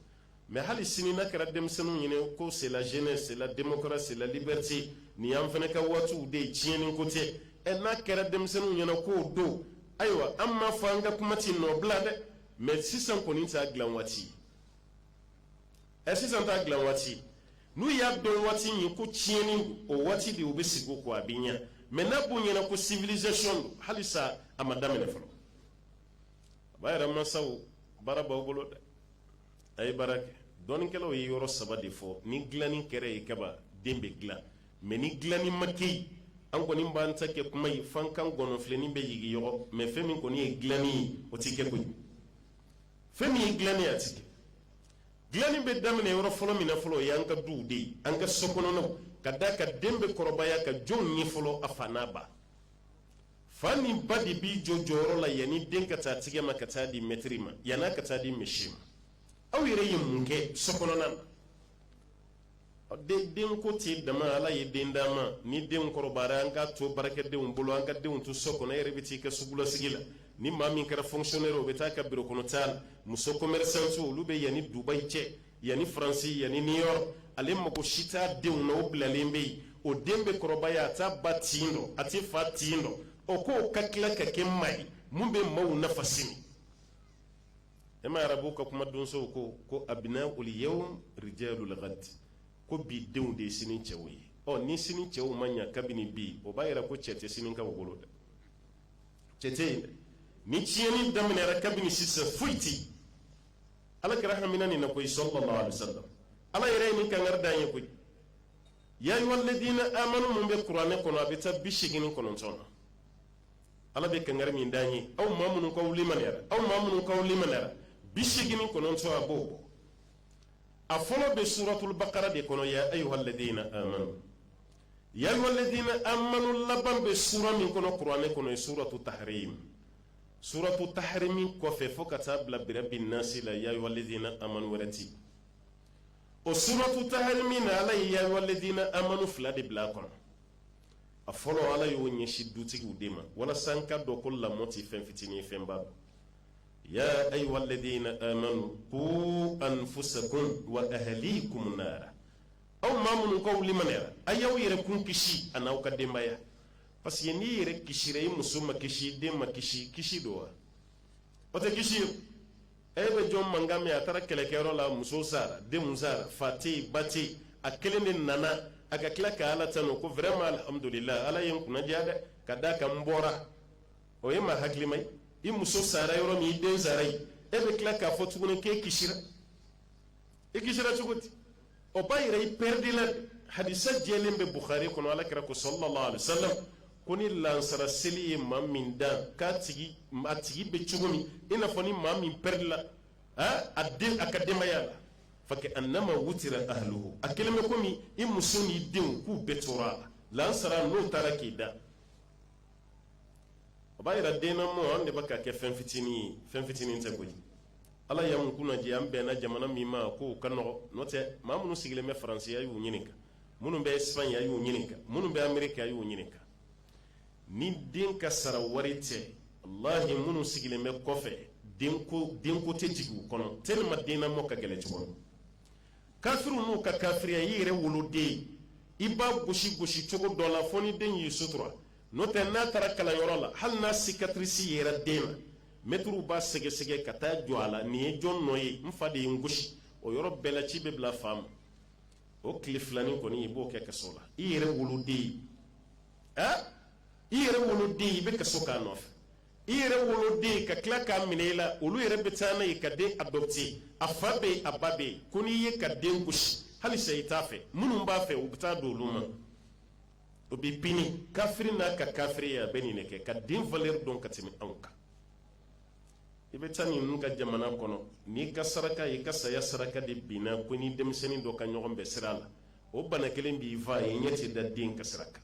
[SPEAKER 1] mɛ hali sini n'a kɛra denmisɛnninw ɲɛna ko c'est la jeunesse c'est la démocratie c'est la liberté nin y'an fana ka waatiw de ye tiɲɛni ko tɛ ɛ n'a kɛra denmisɛnninw ɲɛna k'o don ayiwa an m'a fɔ an ka kuma tɛ nɔ bila dɛ mɛ sisan kɔni t'a dilan waati ɛ sisan t'a dilan waati n'u y'a dɔn waati min ko tiɲɛni o waati de u bɛ sigi o ko a bɛ ɲɛ mɛ n'a b'u ɲɛna ko civilisation don halisa a ma daminɛ fɔlɔ a b'a yɛrɛ mansaw baara b'aw bolo dɛ a ye baara kɛ dɔnnikɛlaw ye yɔrɔ saba de fɔ ni dilanni kɛra yen kaban den bɛ dilan mɛ ni dilanni ma kɛ yen an kɔni b'an ta kɛ kuma ye f'an kan gɔnɔnfilenni bɛ yigi yɔrɔ mɛ fɛn min kɔni ye dilanni ye o tɛ kɛ koyi fɛn min ye dilanni ye a tɛ kɛ dilanni bɛ daminɛ yɔrɔ fɔlɔ min na fɔlɔ o y'an ka duw de ye an ka so kɔnɔnaw ka d'a kan den bɛ kɔrɔbaya ka jɔn ye fɔlɔ a fa n'a ba fa ni ba de b'i jɔ jɔyɔrɔ la yanni den ka taa tigɛ ma ka taa di mɛtiri ma yann'a ka taa di misi ma aw yɛrɛ ye mun kɛ so kɔnɔna na denko tɛ dama ala ye den d'a ma ni den kɔrɔbayara an k'a to baarakɛdenw bolo an ka denw to so kɔnɔ yɛrɛ bɛ t'i ka sugulasigi la ni maa min kɛra fɔnkisiyɔnɛri o bɛ taa ka birokɔnɔtaa la muso kɔmɛrisanti olu bɛ yan ani dubayi cɛ yan ani faransi yan ani new york ale mago si t'a denw na o bilalen bɛ yen o den bɛ kɔrɔbaya a t'a ba tin dɔn a t'a fa tin dɔn o ko ka tila ka kɛ maa ye min bɛ maaw nafa sini e ma arabu ka kumadonsow ko ko abnaul yawm rijalul gadi ko bi denw de ye sini cɛw ye ɔ ni sini cɛw ma ɲɛ kabini bi o b'a jira ko cɛ tɛ sini ka wolo dɛ cɛ tɛ yen ni tiɲɛni daminɛra kabini sisan foyi tɛ yen ala kira hamina nin na koyi salla lahu alayhi wa sallam ala yɛrɛ ye ni kanga dan ye koyi ya ayuhal lazina amanu minnu bɛ kuranɛ kɔnɔ a bɛ taa bi segin ni kɔnɔntɔn na ala bɛ kanga min dan ye aw maa minnu k'aw liman aw maa minnu k'aw liman bi segin kɔnɔntɔn a b'o bɔ a fɔlɔ bɛ suratulubakara de kɔnɔ ya ayuhaladina amanu ya ayuhaladina amanu laban bɛ sura min kɔnɔ kuranɛ kɔnɔ ye suratu tahrim ye suratu tahrimi kɔfɛ fo ka taa bila birabin nasi la ya ayuhaladina amanu wɛrɛ tɛ o suratu tahrimi na ala ye ya ayuhaladina amanu fila de bila a kɔnɔ a fɔlɔ ala y'o ɲɛsin dutigiw de ma walasa an k'a dɔn ko lamɔ tɛ fɛn fitinin ye fɛnba don ya ayuhaladina amanu ku anfusakum wa ahlikum nara aw maa minnu k'aw limaniyara a y'aw yɛrɛ kun kisi a n'aw ka denbaya parce que n'i yɛrɛ kisira i muso ma kisi den ma kisi kisi don wa o tɛ kisi ye e bɛ jɔn mankan mɛn a taara kɛlɛkɛyɔrɔ la muso sara denw sara fa tɛ ba tɛ a kelen de nana a ka tila ka ala tanu ko vraiment alihamdulila ala ye n kunnaja dɛ ka d'a kan n bɔra o ye maa hakilima ye i muso sara yɔrɔ min i den sara ye e bɛ tila k'a fɔ tuguni k'e kisira i kisira cogo di o b'a yira i pɛridila hadisa jɛlen bɛ bukhari kɔnɔ ala kira ko sallallahu alaihi wasallam ko ni lansara seli ye maa min dan k'a tigi a tigi bɛ cogo min i n'a fɔ ni maa min pɛridila a den a ka denbaya la fa ka annama wutira ahluhu a kelen bɛ komi i muso n'i denw k'u bɛɛ tora a la lansara n'o taara k'i dan o b'a jira den lamɔ an de bɛ k'a kɛ fɛn fitinin ye fɛn fitinin tɛ koyi ala ye an kunnaja an bɛnna jamana min ma k'o ka nɔgɔ n'o tɛ maa minnu sigilen bɛ faransi a y'u ɲininka minnu bɛ espagne a y'u ɲininka minnu bɛ ameriki a y'u ɲininka ni den ka sara wari tɛ walahi minnu sigilen bɛ kɔfɛ denko denko tɛ jigin u kɔnɔ tellement den lamɔ ka gɛlɛn cogo min kafiriw n'u ka kafiriya i yɛrɛ woloden i b'a gosi gosi cogo dɔ la fo ni den y'i sutura n'o tɛ n'a taara kalanyɔrɔ la hali n'a sikatirisi yera den na mɛtiriw b'a sɛgɛsɛgɛ ka taa jɔ a la nin ye jɔn nɔ ye n fa de ye n gosi o yɔrɔ bɛɛ la ci bɛ bila fa ma o tile filanin kɔni i b'o kɛ kaso la i yɛrɛ woloden ɛ i yɛrɛ woloden i bɛ kaso k'a nɔfɛ i yɛrɛ woloden ka tila k'a minɛ i la olu yɛrɛ bɛ taa n'a ye ka den adopte a fa bɛ yen a ba bɛ yen ko n'i y'i ka den gosi hali sa i t'a fɛ minnu b'a fɛ u bɛ taa d'olu ma o bɛ pini kafiri n'a ka kafiriya a bɛ nin de kɛ ka den valeur dɔn ka tɛmɛ anw kan i bɛ taa ninnu ka jamana kɔnɔ n'i ka saraka i ka saya saraka de binna k'i ni denmisɛnnin dɔ ka ɲɔgɔn bɛn sira la o bana kelen b'i fa ye ɲɛ tɛ da den ka sira kan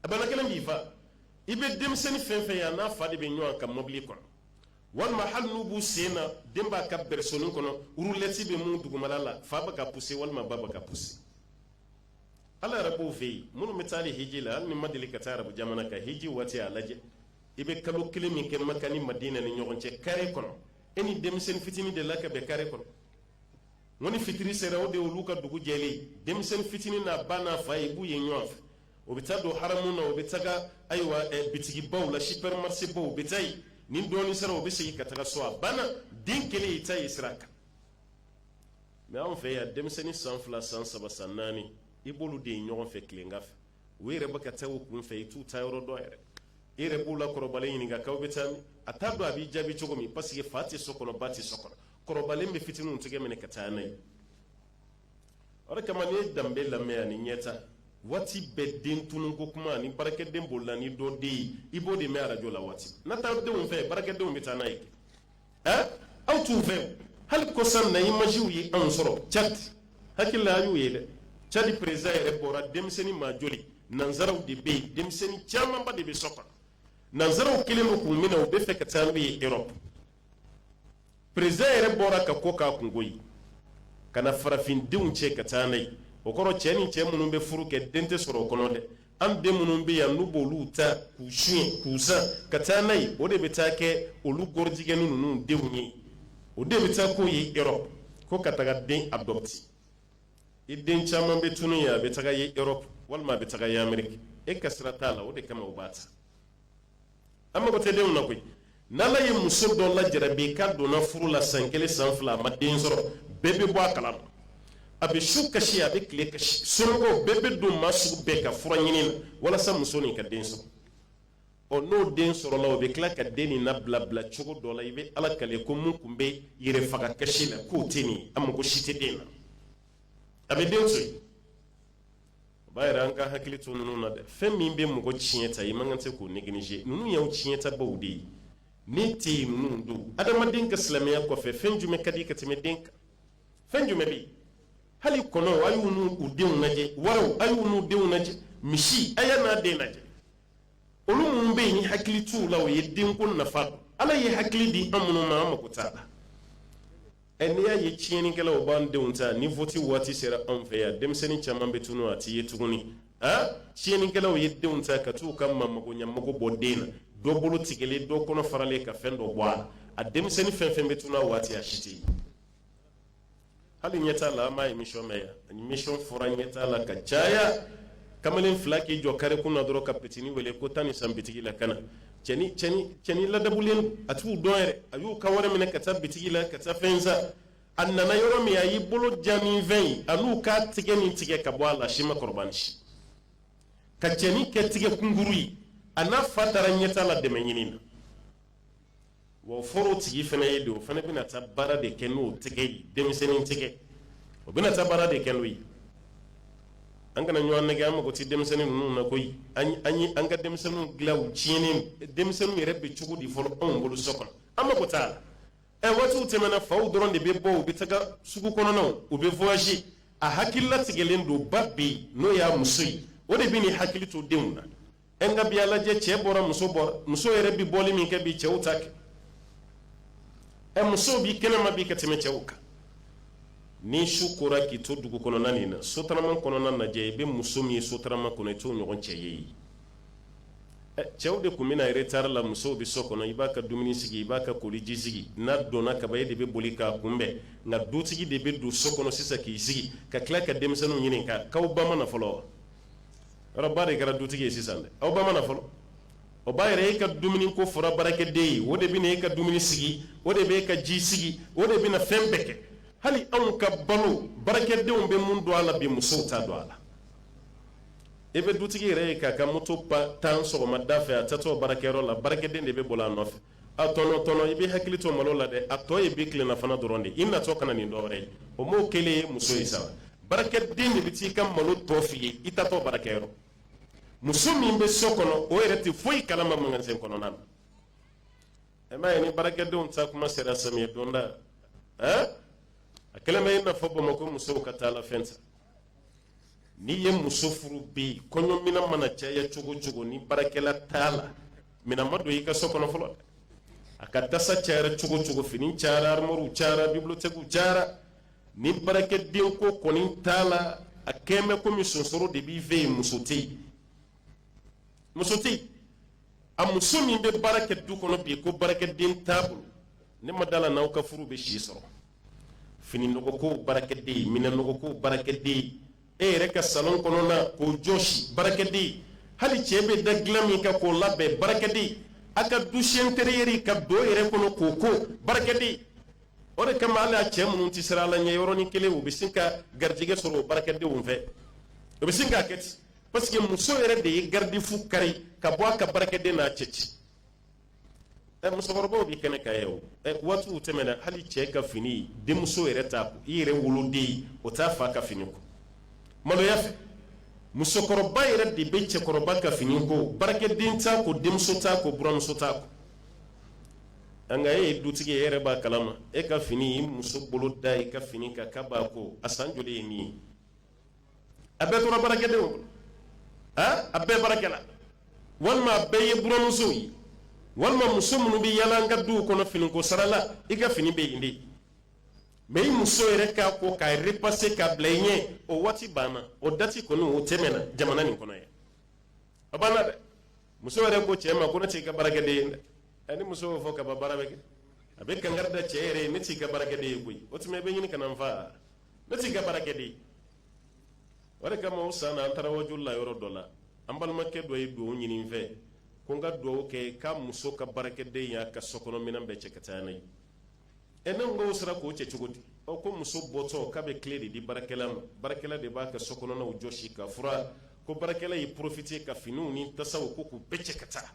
[SPEAKER 1] a bana kelen b'i fa i bɛ denmisɛnnin fɛn fɛn ye a n'a fa de bɛ ɲɔgɔn kan mɔbili kɔnɔ walima hali n'u b'u sen na den b'a ka bɛrɛsoni kɔnɔ urulɛti bɛ mun dugumana la fa bɛ k'a puse walima ba bɛ k'a puse ala yɛrɛ b'o fɛ yen minnu bɛ taa ni hiji la hali n'i ma deli ka taa arabu jamana kan hiji waati a lajɛ i bɛ kalo kelen min kɛ maka ni madina ni ɲɔgɔn cɛ kare kɔnɔ e ni denmisɛnnin fitinin delila ka bɛn kare kɔnɔ non ni fitiri sera o de olu ka dugu jɛlen denmisɛni fitini n'a ba n'a fa i b'u ye ɲɔgɔn fɛ o bɛ taa don haramu na o bɛ taga ayiwa bitigibaw la supermarsebaw o bɛ taa yen ni dɔɔni sera o bɛ segin ka taga so a banna den kelen i t'a ye sira kan mɛ anw fɛ yan denmisɛnnin san fila san saba san naani i b'olu de ye ɲɔgɔn fɛ tilegan fɛ u yɛrɛ bɛ ka taa u kun fɛ i t'u taayɔrɔ dɔn yɛrɛ e yɛrɛ b'u la kɔrɔbalen ɲininka k'aw bɛ taa min a t'a dɔn a b'i jaabi cogo min parce que fa tɛ so kɔnɔ ba tɛ so kɔnɔ kɔrɔbalen bɛ fitininw tɛgɛ minɛ ka taa n'a ye o de kama n'i ye danbe lamɛn ani ɲɛta waati bɛɛ den tununko kuma ani baarakɛden bolila ni dɔ den ye i b'o de mɛn arajo la waati na taa denw fɛ baarakɛdenw bɛ taa n'a ye ɛn aw t'u fɛ hali kɔsa in na imajiw ye anw sɔrɔ cadi n hakili la an y'u ye dɛ cadi peresidan yɛrɛ bɔra denmisɛnnin maa joli nanzaraw de bɛ yen denmisɛnnin camanba de bɛ sɔkɔ nanzaraw kɛlen don k'u minɛ u bɛ fɛ ka taa n'u ye erɔpu peresidan yɛrɛ bɔra ka ko k'a kunko ye ka na farafindenw cɛ ka taa n'u ye o kɔrɔ cɛ ni cɛ minnu bɛ furu kɛ den tɛ sɔrɔ o kɔnɔ dɛ an den minnu bɛ yan n'u b'olu ta k'u su k'u san ka taa n'a ye o de bɛ taa kɛ gɔrɔjigɛni ninnu denw ye o de bɛ taa n'o ye erɔpu ko ka taga den adopter i den caman bɛ tunun yen a bɛ taga erɔpu walima a bɛ taga ailleurs e ka sira t'a la o de kama o b'a ta an mago tɛ denw na koyi n'ala ye muso dɔ lajarabi k'a donna furu la san kelen san fila a ma den sɔrɔ bɛɛ bɛ bɔ a kalama a bɛ su kasi a bɛ tile kasi somɔgɔw bɛɛ bɛ don maa sugu bɛɛ ka fura ɲini na walasa muso nin ka den sɔrɔ ɔ n'o den sɔrɔla o bɛ tila ka den nin nabilabila cogo dɔ la i bɛ ala kale ko min tun bɛ yɛrɛ faga kasi la k'o tɛ nin ye a mago si tɛ den na a bɛ den to yen o b'a jira an ka hakili to ninnu na dɛ fɛn min bɛ mɔgɔ tiɲɛ ta i man kan se k'o negliger ninnu y'aw tiɲɛtabaw de ye n'i tɛ yen ninnu don adamaden ka silamɛya kɔfɛ fɛn jumɛn ka di ka tɛmɛ den kan fɛn jumɛn bɛ yen hali kɔnɔw a y'u n'u u denw lajɛ waraw a y'u n'u denw lajɛ misi a y'a n'a den lajɛ olu minnu bɛ yen ni hakili t'u la o ye denko nafa dɔn ala ye hakili di an minnu ma an mako t'a la ɛ n'i y'a ye tiɲɛnikɛlaw b'an denw ta ni voti waati sera anw fɛ yan denmisɛnnin caman bɛ tunu a tɛ ye tuguni a tiɲɛnikɛlaw ye denw ta ka t'u ka magoɲɛmago bɔ den na dɔ bolo tigɛlen dɔ kɔnɔ faralen ka fɛn dɔ bɔ a la a denmisɛnnin fɛn fɛn bɛ tunu a waati a si tɛ ye hali ɲɛtaa la an b'a emission mɛn yan ani emission fɔra ɲɛtaa la ka caya kamalen fila k'i jɔ kare kun na dɔrɔn ka pitini wele ko taa nin san bitigi la ka na cɛnin ladabulen a t'u dɔn yɛrɛ a y'u ka wari minɛ ka taa bitigi la ka taa fɛn san a nana yɔrɔ min a y'i bolo ja ni fɛn ye a n'u k'a tɛgɛ nin tigɛ ka bɔ a la si ma kɔrɔbani si ka cɛnin kɛ tɛgɛ kunkurun ye a n'a fa taara ɲɛtaa la dɛmɛ ɲini na wa fɔlɔ tigi fana ye don o fana bɛna taa baara de kɛ n'o tɛgɛ ye denmisɛnnin tɛgɛ o bɛna taa baara de kɛ n'o ye an kana ɲɔgɔn nɛgɛ an mago tɛ denmisɛnnin ninnu na koyi an ye an ka denmisɛnninw dilan u tiɲɛnen denmisɛnninw yɛrɛ bɛ cogo di fɔlɔ anw bolo so kɔnɔ an mago t'a la ɛ waatiw tɛmɛna faw dɔrɔn de bɛ bɔ u bɛ taga sugu kɔnɔnaw u bɛ voyage a hakili latigɛlen don ba bɛ yen n'o y'a muso ye o de bɛ n'i hakili to denw na e ka bi alajɛ cɛ bɔra muso bɔra muso yɛrɛ bɛ bɔli min kɛ bi cɛw t'a kɛ ɛ musow bɛ kɛnɛma bi ka tɛmɛ cɛw kan ni su kora k'i to dugu kɔnɔna nin na sotarama kɔnɔna lajɛ i bɛ muso min ye sotarama kɔnɔ i t'o ɲɔgɔn cɛ ye yen cɛw de tun bɛ na retari la musow bɛ so kɔnɔ i b'a ka dumuni sigi i b'a ka koliji sigi n'a donna kaban e de bɛ boli k'a kunbɛn nka dutigi de bɛ don so kɔnɔ sisan k'i sigi ka tila ka denmisɛnninw ɲininka k'aw ba ma na fɔlɔ wa de kɛra dutigi ye sisan dɛ aw ba ma na fɔlɔ o b'a yira i ka dumuni ko fɔra baarakɛden ye o de bɛ e ka dumuni sigi o de bɛ e ka ji sigi o de bɛ fɛn bɛɛ kɛ hali anw ka balo baarakɛdenw bɛ min dɔn a la bi musow t'a dɔn a la e bɛ dutigi yɛrɛ ye k'a ka moto tan sɔgɔma da fɛ a taatɔ baarakɛyɔrɔ la baarakɛden de bɛ boli a nɔfɛ a tonton i b'i hakili to malo la dɛ a tɔ ye bi tilelafana dɔrɔn de i natɔ ka na ni dɔwɛrɛ ye o m'o kelen ye muso ye sabu baarakɛden de bɛ t'i ka malo tɔ f'i ye i taatɔ baarakɛyɔrɔ muso min bɛ so kɔnɔ o yɛrɛ tɛ foyi kalama magasin kɔnɔna na e m'a ye ni baarakɛdenw taa tuma sera samiyɛ donda ɛɛ a kɛlen bɛ i n'a fɔ bamakɔ musow ka taa la fɛn san N'i ye muso furu bi kɔɲɔmina mana caya cogo cogo ni baarakɛla t'a la minɛn ma don i ka so kɔnɔ fɔlɔ a ka tasa cayara cogo cogo fini cayara armoires cayara bibliothèques cayara ni baarakɛden ko kɔni t'a la a kɛlen bɛ komi sonsoro de b'i fɛ yen muso tɛ yen muso tɛ yen a muso min bɛ baara kɛ du kɔnɔ bi ko baarakɛden t'a bolo ne ma d'a la n'aw ka furu bɛ si sɔrɔ fini nɔgɔ ko baarakɛden minɛn nɔgɔ ko baarakɛden e yɛrɛ ka salon kɔnɔna k'o jɔsi baarakɛden hali cɛ bɛ da dilan min kan k'o labɛn baarakɛden a ka douche intérieure ka don yɛrɛ kɔnɔ k'o ko baarakɛden o de kama hali a cɛ minnu tɛ siran ala ɲɛ yɔrɔnin kelen u bɛ sin ka garijɛgɛ sɔrɔ o baarakɛdenw fɛ o bɛ sin k'a kɛ ten parce que muso yɛrɛ de ye garidifu kari ka bɔ a ka baarakɛden n'a cɛ cɛ ɛ musokɔrɔbaw bɛ kɛnɛ kan yen o ɛ waatiw tɛmɛna hali cɛ ka fini denmuso yɛrɛ t'a ko i yɛrɛ woloden o t'a fa ka fini ko maloya fɛ musokɔrɔba yɛrɛ de bɛ cɛkɔrɔba ka fini ko baarakɛden t'a ko denmuso t'a ko buramuso t'a ko nka e ye dutigi ye e yɛrɛ b'a kalama e ka fini i muso bolo da i ka fini kan k'a b'a ko a san joli ye nin ye a bɛɛ tora baarakɛdenw kɔnɔ han a bɛɛ baarakɛla walima a bɛɛ ye buramusow ye walima muso minnu bɛ yaala an ka duw kɔnɔ finiko sara la i ka fini bɛ yen de mɛ i muso yɛrɛ k'a ko k'a repase k'a bila i ɲɛ o waati banna o dati kɔni o tɛmɛna jamana nin kɔnɔ yan a banna dɛ muso yɛrɛ ko cɛ ma ko ne t'i ka baarakɛden ye dɛ ɛ ni muso y'o fɔ kaban baara bɛ kɛ a bɛ kankari da cɛ yɛrɛ ye ne t'i ka baarakɛden ye koyi o tuma i bɛ ɲini ka na n fa ne t'i ka baara kɛ dɛ o de kama o san na an taara wajuli la yɔrɔ dɔ la an balimakɛ dɔ ye dugawu ɲini n fɛ ko n ka dugawu kɛ k'a muso ka baarakɛden y'a ka sokɔnɔminɛn bɛɛ cɛ ka taa n'a ye ɛ ne ko o sera k'o cɛ cogo di ɔ ko muso bɔtɔ k'a bɛ kile de di baarakɛla ma baarakɛla de b'a ka sokɔnɔnaw jɔsi k'a furan ko baarakɛla y'i porofite ka finiw ni tasaw ko k'u bɛɛ cɛ ka taa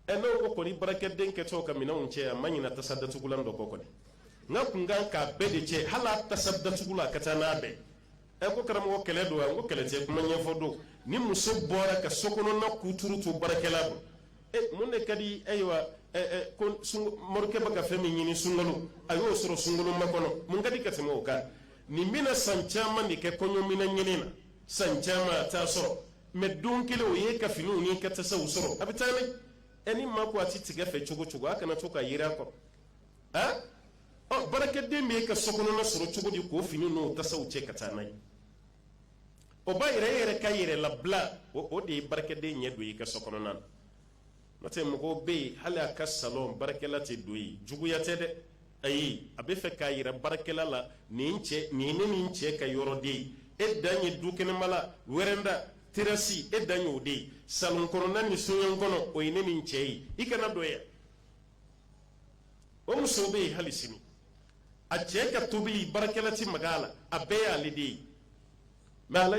[SPEAKER 1] ɛ n'o ko kɔni baarakɛden kɛtɔ ka minɛnw cɛ a ma ɲina tasa datugulan dɔ kɔ kɔni n ka kun kan k'a bɛɛ de cɛ hali a tasa datugulan ka taa n'a bɛɛ ye ɛ ko karamɔgɔ kɛlɛ don wa n ko kɛlɛ tɛ kuma ɲɛfɔ don ni muso bɔra ka so kɔnɔna kuturu to baarakɛla bolo e mun de ka di ayiwa ɛ ɛ ko morikɛ bɛ ka fɛn min ɲini sunkalo a y'o sɔrɔ sunkalomakɔnɔ mun ka di ka tɛmɛ o kan nin bɛna san caman de kɛ kɔɲɔminɛn ɲini na san caman a t'a sɔrɔ mɛ don kelen o y'i ka finiw n'i ka tasaw sɔrɔ a bɛ taa n'a ye ɛ ni maa ko a tɛ tigɛ fɛ cogo cogo a kana to k'a jiran a kɔrɔ a ɔ baarakɛden b'i ka so kɔnɔna sɔrɔ cogo di k'o fini n'o tasaw cɛ ka taa n'a ye o b'a yɛrɛ e yɛrɛ ka yɛrɛ labila o de ye baarakɛden ɲɛ don i ka so kɔnɔna na N'o tɛ mɔgɔw bɛ yen hali a ka salon baarakɛla tɛ don yen, juguya tɛ dɛ, ayi, a bɛ fɛ k'a jira baarakɛla la nin ɛ nin ye ne ni n cɛ ka yɔrɔ de ye, e dan ye dukɛnɛmala, wɛrɛnda, terasi e dan y'o de ye, salon kɔnɔna ni soɲɛn kɔnɔ o ye ne ni n cɛ ye, i kana don yan. O musow bɛ yen hali sini, a cɛ ka tobili baarakɛla tɛ maga a la, a bɛɛ y'ale de ye. mɛ hali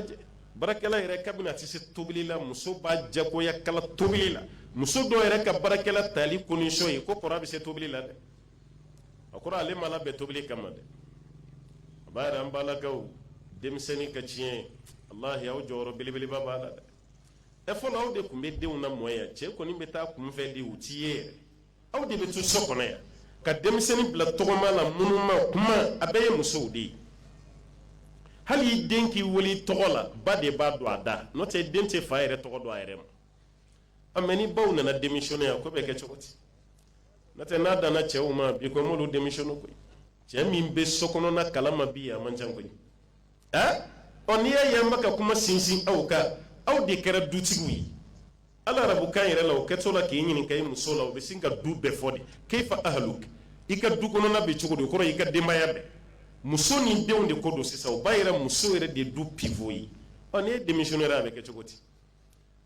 [SPEAKER 1] baarakɛla yɛrɛ kabini a tɛ se tobili la muso b'a jagoya k'a la tobili la muso dɔw yɛrɛ ka baarakɛla tali kosɔn ye ko kɔrɔ a bɛ se tobili la dɛ a kɔrɔ ale ma bɛ tobili kama dɛ a b'a yɛrɛ an balakaw denmisɛnnin ka tiɲɛ walahi aw jɔyɔrɔ belebeleba b'a la dɛ ɛ fɔlɔ aw de tun bɛ denw lamɔ yan cɛ kɔni bɛ taa kunfɛ denw t'i ye yɛrɛ aw de bɛ to so kɔnɔ yan ka denmisɛnnin bila tɔgɔma la minnu ma kuma a bɛɛ ye musow de ye hali i den k'i wele tɔgɔ la ba de b'a don a da n'o tɛ den tɛ fa yɛrɛ tɔgɔ dɔn a yɛrɛ ma a mɛ ni baw nana denmisɛnnin yan ko bɛ kɛ cogo di n'o tɛ n'a danna cɛw ma bi ko m'olu denmisɛnnin koyi cɛ min bɛ so kɔnɔna kalama bi a man ca koyi ɛ ɔ n'i y'a ye an bɛ ka kuma sinsin aw kan aw de kɛra dutigiw ye hali arabukan yɛrɛ la o kɛtɔ la k'i ɲininka i muso la o bɛ sin ka du bɛɛ fɔ de kayifa ahalu i ka du kɔnɔna bɛ cogo di o kɔrɔ i ka denbaya bɛɛ muso ni denw de ko don sisan o b'a yira muso yɛrɛ de du pivo ye ɔ n'i ye denmisɛnnin yɛrɛ a bɛ kɛ cogo di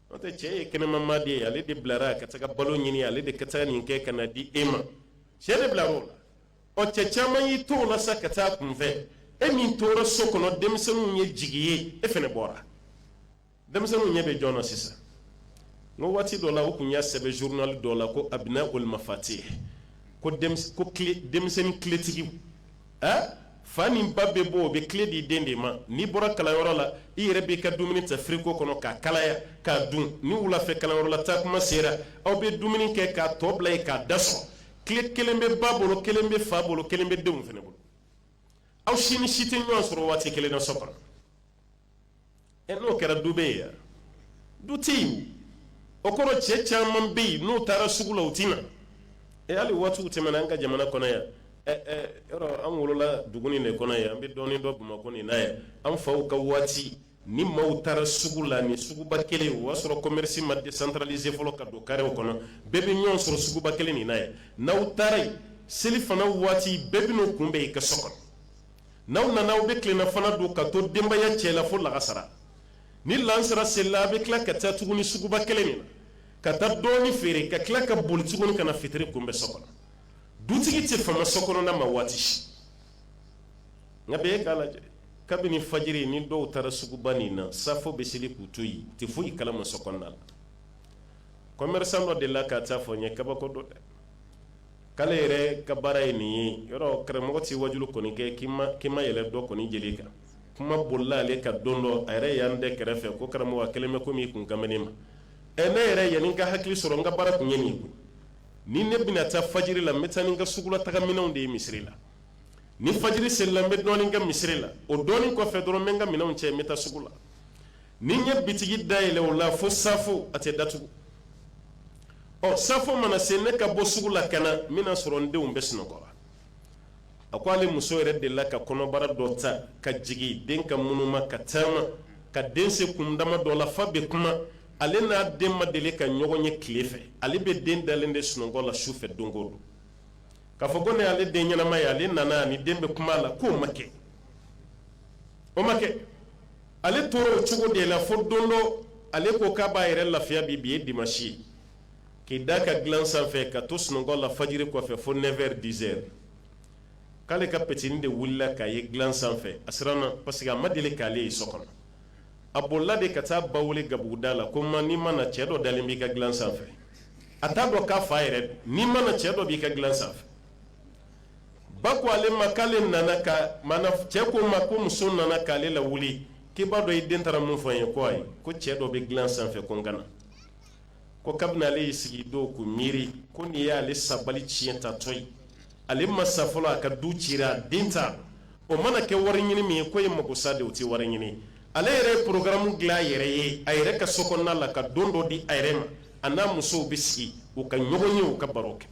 [SPEAKER 1] n'o tɛ cɛ ye kɛnɛma maa de ye ale de bilara ka taga balo ɲini ale de ka taga nin kɛ ka na di e ma cɛ de bilara o la ɔ cɛ caman y'i to o la sa ka taa kunfɛ e min tora so kɔnɔ denmisɛnninw ye jigi ye e fana bɔra denmisɛnninw ɲɛ bɛ jɔn na sisan n ko waati dɔ la u tun y'a sɛbɛn journal dɔ la ko abnaul mafatih ko ko denmisɛnnin kiletigiw ɛ fa ni ba bɛ bɔ o bɛ kile di den de ma n'i bɔra kalanyɔrɔ la i yɛrɛ b'i ka dumuni ta firigo kɔnɔ k'a kalaya k'a dun ni wulafɛ kalanyɔrɔ la taa kuma sera aw bɛ dumuni kɛ k'a tɔ bila yen ka da sɔgɔ kile kelen bɛ ba bolo kelen bɛ fa bolo kelen bɛ denw fana bolo aw si ni si tɛ ɲɔgɔn sɔrɔ waati kelen na so kɔnɔ ɛ n'o kɛra du bɛ yen du tɛ yen o kɔrɔ cɛ caman bɛ yen n'o taara sugu la o tɛ na ɛ hali waatiw tɛmɛna an ka jamana kɔnɔ yan yɔrɔ an wolola dugu de kɔnɔ yan an bɛ dɔɔnin dɔn bamakɔ nin na yan an faw ka waati ni maaw taara sugu la nin suguba kelen o y'a sɔrɔ kɔmɛrisi ma desantaralize fɔlɔ ka don karew kɔnɔ bɛɛ bɛ ɲɔgɔn sɔrɔ suguba kelen nin na yan n'aw taara yen selifana waati bɛɛ bɛ n'o kunbɛn i ka so kɔnɔ n'aw nana aw bɛ tilelafana dun ka to denbaya cɛ la fo lagansara ni laansara selila a bɛ tila ka taa tugun nin suguba kelen nin ka taa dɔɔnin feere ka tila ka boli tugun ka na fitiri kunbɛn so kɔnɔ dutigi tɛ fama so kɔnɔna ma waati si nka bi e k'a lajɛ kabini fajiri ni dɔw taara suguba nin na safo bɛ seli k'u to yen tɛ foyi kalama so kɔnɔna la kɔnmri dɔ de la ka taa fɔ n ye kabako don dɛ k'ale yɛrɛ ka baara ye nin ye yɔrɔ karamɔgɔ tɛ wajulu kɔni kɛ k'i ma yɛlɛ dɔ kɔni jeli ka kuma bolila ale ka don dɔ a yɛrɛ yan bɛɛ kɛrɛfɛ ko karamɔgɔ kɛlen bɛ ko min kun kabini ma ɛ ne yɛrɛ yanni n ka hakili sɔrɔ n ka baara tun ye nin koyi ni ne bɛna taa fajiri la n bɛ taa ni n ka sugulataminɛnw de ye misiri la ni fajiri selila n bɛ dɔɔnin kɛ misiri la o dɔɔnin kɔfɛ dɔrɔn n bɛ n ka minɛnw cɛ n bɛ taa sugu la ni n ye bitigi da yɛlɛ o la fo safo a tɛ datugu ɔ safo mana se ne ka bɔ sugu la ka na n bɛna sɔrɔ n denw bɛ sunɔgɔ la a ko ale muso yɛrɛ delila ka kɔnɔbara dɔ ta ka jigin den ka munuma ka taama ka den se kundama dɔ la f'a bɛ kuma ale n'a den ma deli ka ɲɔgɔn ye tile fɛ ale bɛ den dalen de sunɔgɔ la su fɛ don don k'a fɔ ko ne ale den ɲɛnama ye ale nana ni den bɛ kuma a la k'o ma kɛ o ma kɛ ale tora o cogo de la fo don dɔ ale ko k'a b'a yɛrɛ lafiya bi bi ye dimasi k'i da a ka dilan sanfɛ ka to sunɔgɔ la fajiri kɔfɛ fo nɛfɛri dizɛri k'ale ka petini de wulila k'a ye dilan sanfɛ a siranna parce que a ma deli k'ale ye so kɔnɔ a bolila de ka taa ba wele gabuguda la ko ma n'i ma na cɛ dɔ dalen b'i ka dilan sanfɛ a t'a dɔn k'a fa yɛrɛ n'i ma na cɛ dɔ b'i ka dilan sanfɛ ba ko ale ma k'ale nana ka cɛ ko ma ko muso nana k'ale lawuli k'i b'a dɔn i den taara mun fɔ n ye ko ayi ko cɛ dɔ bɛ dilan sanfɛ ko n ka na ko kabini ale y'i sigi o don k'o miiri ko nin y'ale sabali tiɲɛ tatɔ ye ale ma sa fɔlɔ a ka du cira den ta o mana kɛ wari ɲini min ye ko ye mako sa de o tɛ wari ɲini ale yɛrɛ ye porokaramu dilan a yɛrɛ ye a yɛrɛ ka so kɔnɔna la ka don dɔ di a yɛrɛ ma a n'a musow bɛ sigi u ka ɲɔgɔn ye u ka baro kɛ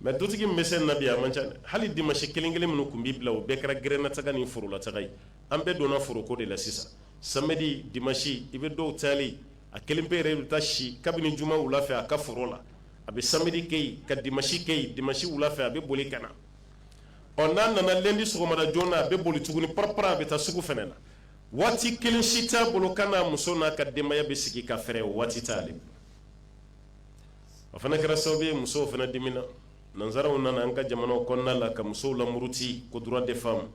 [SPEAKER 1] mɛ dutigi bɛ se na bi a man ca hali dimasi kelen kelen minnu tun bɛ bila u bɛɛ kɛra gɛrɛnnataa ni forolataa ye an bɛɛ donna foroko de la sisan sibiri dimasi i bɛ dɔw tali a kelen pe yɛrɛ bɛ taa si kabini juma wula fɛ a ka foro la a bɛ sibiri kɛ ka dimasi kɛ dimasi wula fɛ a bɛ boli ka na ɔ n'a nana lɛndi sɔgɔmada joona a bɛ boli tuguni pap a bɛ taa sugu fɛ na waati kelen si t'a bolo k'a n'a muso n'a ka denbaya bɛ sigi ka fɛ waati t' o fana kɛra sababu ye musow fana dimina nansaraw nana an ka jamana kɔnɔna la ka musow lamuruti ko droit de femme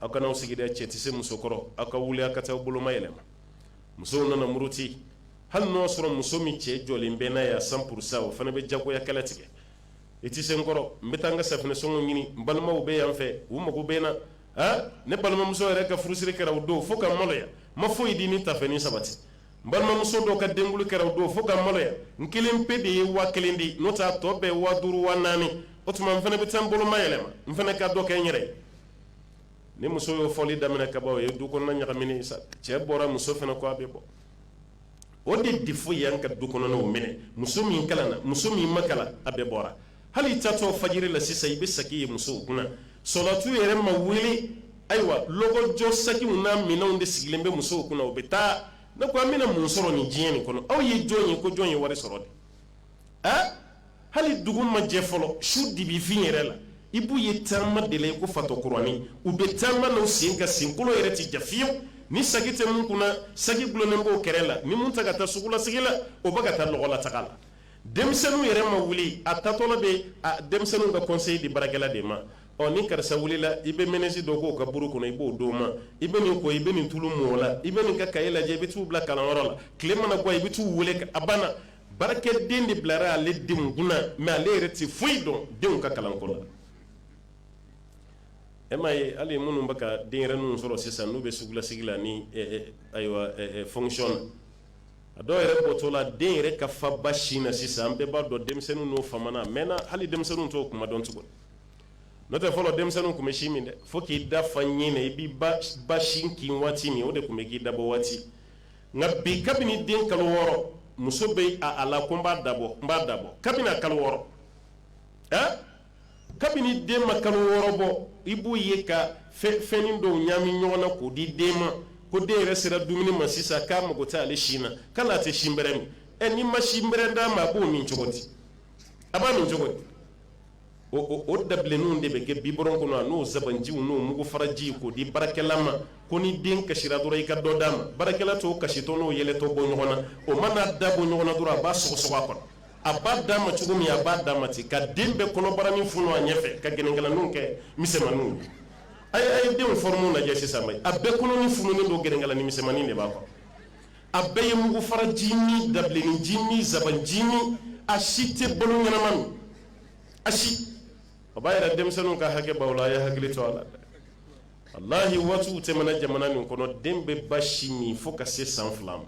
[SPEAKER 1] aw kana aw sigi cɛ tɛ se muso kɔrɔ aw ka wuli aw ka taa boloma yɛlɛ musow nana muruti hali n' y'a sɔrɔ muso min cɛ jɔlen bɛ n'a ye cent pour cent o fana bɛ jagoya kɛlɛ tigɛ i tɛ se n kɔrɔ n bɛ taa an ka safunɛsɔngɔ ɲini balimaw bɛ yan fɛ u mago bɛ n na ne balimamuso yɛrɛ ka furusiri kɛra o don fo ka maloya ma foyi ye di ni tafɛn ni sabati n balimamuso dɔ ka denkuli kɛra o don fo ka n maloya n kelen pe de ye waa kelen di n'o t'a tɔ bɛɛ waa duuru waa naani o tuma n fana bɛ taa n boloma yɛlɛma n fana ka dɔ kɛ n yɛrɛ ye ni muso y'o fɔli daminɛ kaban o ye du kɔnɔna ɲagaminen sa cɛ bɔra muso fana ko a bɛ bɔ o de defo y'an ka du kɔnɔnaw minɛ muso min kalanna muso min ma kalan a bɛɛ bɔra hali i taatɔ fajiri la sisan i bɛ saki ye musow kunna salatu yɛrɛ ma wuli ayiwa lɔgɔjɔ sakiw n'a minɛnw de sigilen bɛ musow kunna u bɛ taa ne ko an bɛna mun sɔrɔ nin diɲɛ nin kɔnɔ aw ye jɔn ye ko jɔn ye wari sɔrɔ de ɛɛ hali dugu ma jɛ fɔlɔ su dibifin yɛrɛ la i b'u ye taama de la i ko fatɔ kuranin u bɛ taama n'u sen ka senkolo yɛrɛ tɛ ja fiyewu ni saki tɛ min kunna saki dulonnen b'o kɛrɛ la ni min tɛ ka taa sugulasigi la o bɛ ka taa lɔgɔlataga la denmisɛnninw yɛrɛ ma wuli a taatɔ bɛ denmisɛnninw ka kɔnseyi di baarakɛla de ma ɔ ni karisa wulila i bɛ mayonɛsi dɔ k'o ka buru kɔnɔ i b'o d'o ma i bɛ nin ko i bɛ nin tulu mɔgɔ la i bɛ nin ka kaye lajɛ i bɛ taa a bila kalanyɔrɔ la tile mana bɔ i bɛ taa u weele a banna baarakɛden de bilara ale denw kunna ale yɛrɛ tɛ foyi dɔn denw ka kalan kɔnɔ la e ma ye hali minnu bɛ ka denyɛrɛnin ninnu sɔrɔ sisan n'u bɛ sugulasigi la ni ayiwa fconɔn a dɔw yɛrɛ bɔtɔ la den yɛrɛ ka fa ba sin na sisan an bɛɛ b'a dɔn denmisɛnnin n'o fa mɛ na hali denmisɛnninw t'o kuma dɔn tugun n'o tɛ fɔlɔ denmisɛnnin tun bɛ sin min dɛ fo k'i da fa ɲin na i b'i ba sin kin waati min o de tun bɛ k'i dabɔ waati nka bi kabini den kalo wɔɔrɔ muso bɛ a la ko n b'a dabɔ n b'a dabɔ kabini kalo wɔɔrɔ kabini den ma kalo wɔɔrɔ bɔ i b'o ye ka fɛnnin dɔw ɲami ɲɔgɔn na k'o di den ma ko den yɛrɛ sera dumuni ma sisan k'a mago tɛ ale sin na k'ale tɛ sin bɛrɛ min ɛ n'i ma sin bɛrɛ d'a ma a b'o min cogo di a b'a min cogo di o o dabilenninw de bɛ kɛ bibɔrɔn kɔnɔ a n'o zabanjiw n'o mugufaraji k'o di baarakɛla ma ko ni den kasira dɔrɔn i ka dɔ d'a ma baarakɛla t'o kasitɔ n'o yɛlɛtɔ bɔ ɲɔgɔn na o man'a da bɔ ɲɔgɔn na dɔrɔn a b'a sɔgɔsɔgɔ a kɔnɔ a b'a d'a ma cogo min a b'a d'a ma ten ka den bɛɛ kɔnɔbaranin funu a ɲɛfɛ ka gɛnɛnkalaninw kɛ misɛnmaninw ye a ye a ye denw fɔrɔmu lajɛ sisan a bɛɛ kɔnɔnin fununen don gɛnɛnkalanin misɛnmanin de b'a kɔrɔ a bɛɛ ye mugufara ji ni dabilenni ji ni zaban ji ni a si tɛ balo ɲɛnama min a si a b'a yɛrɛ denmisɛnninw ka hakɛ b'aw la a ye hakili to a la dɛ walahi waatiw tɛmɛna jamana min kɔnɔ den bɛ ba sin min fo ka se san fila ma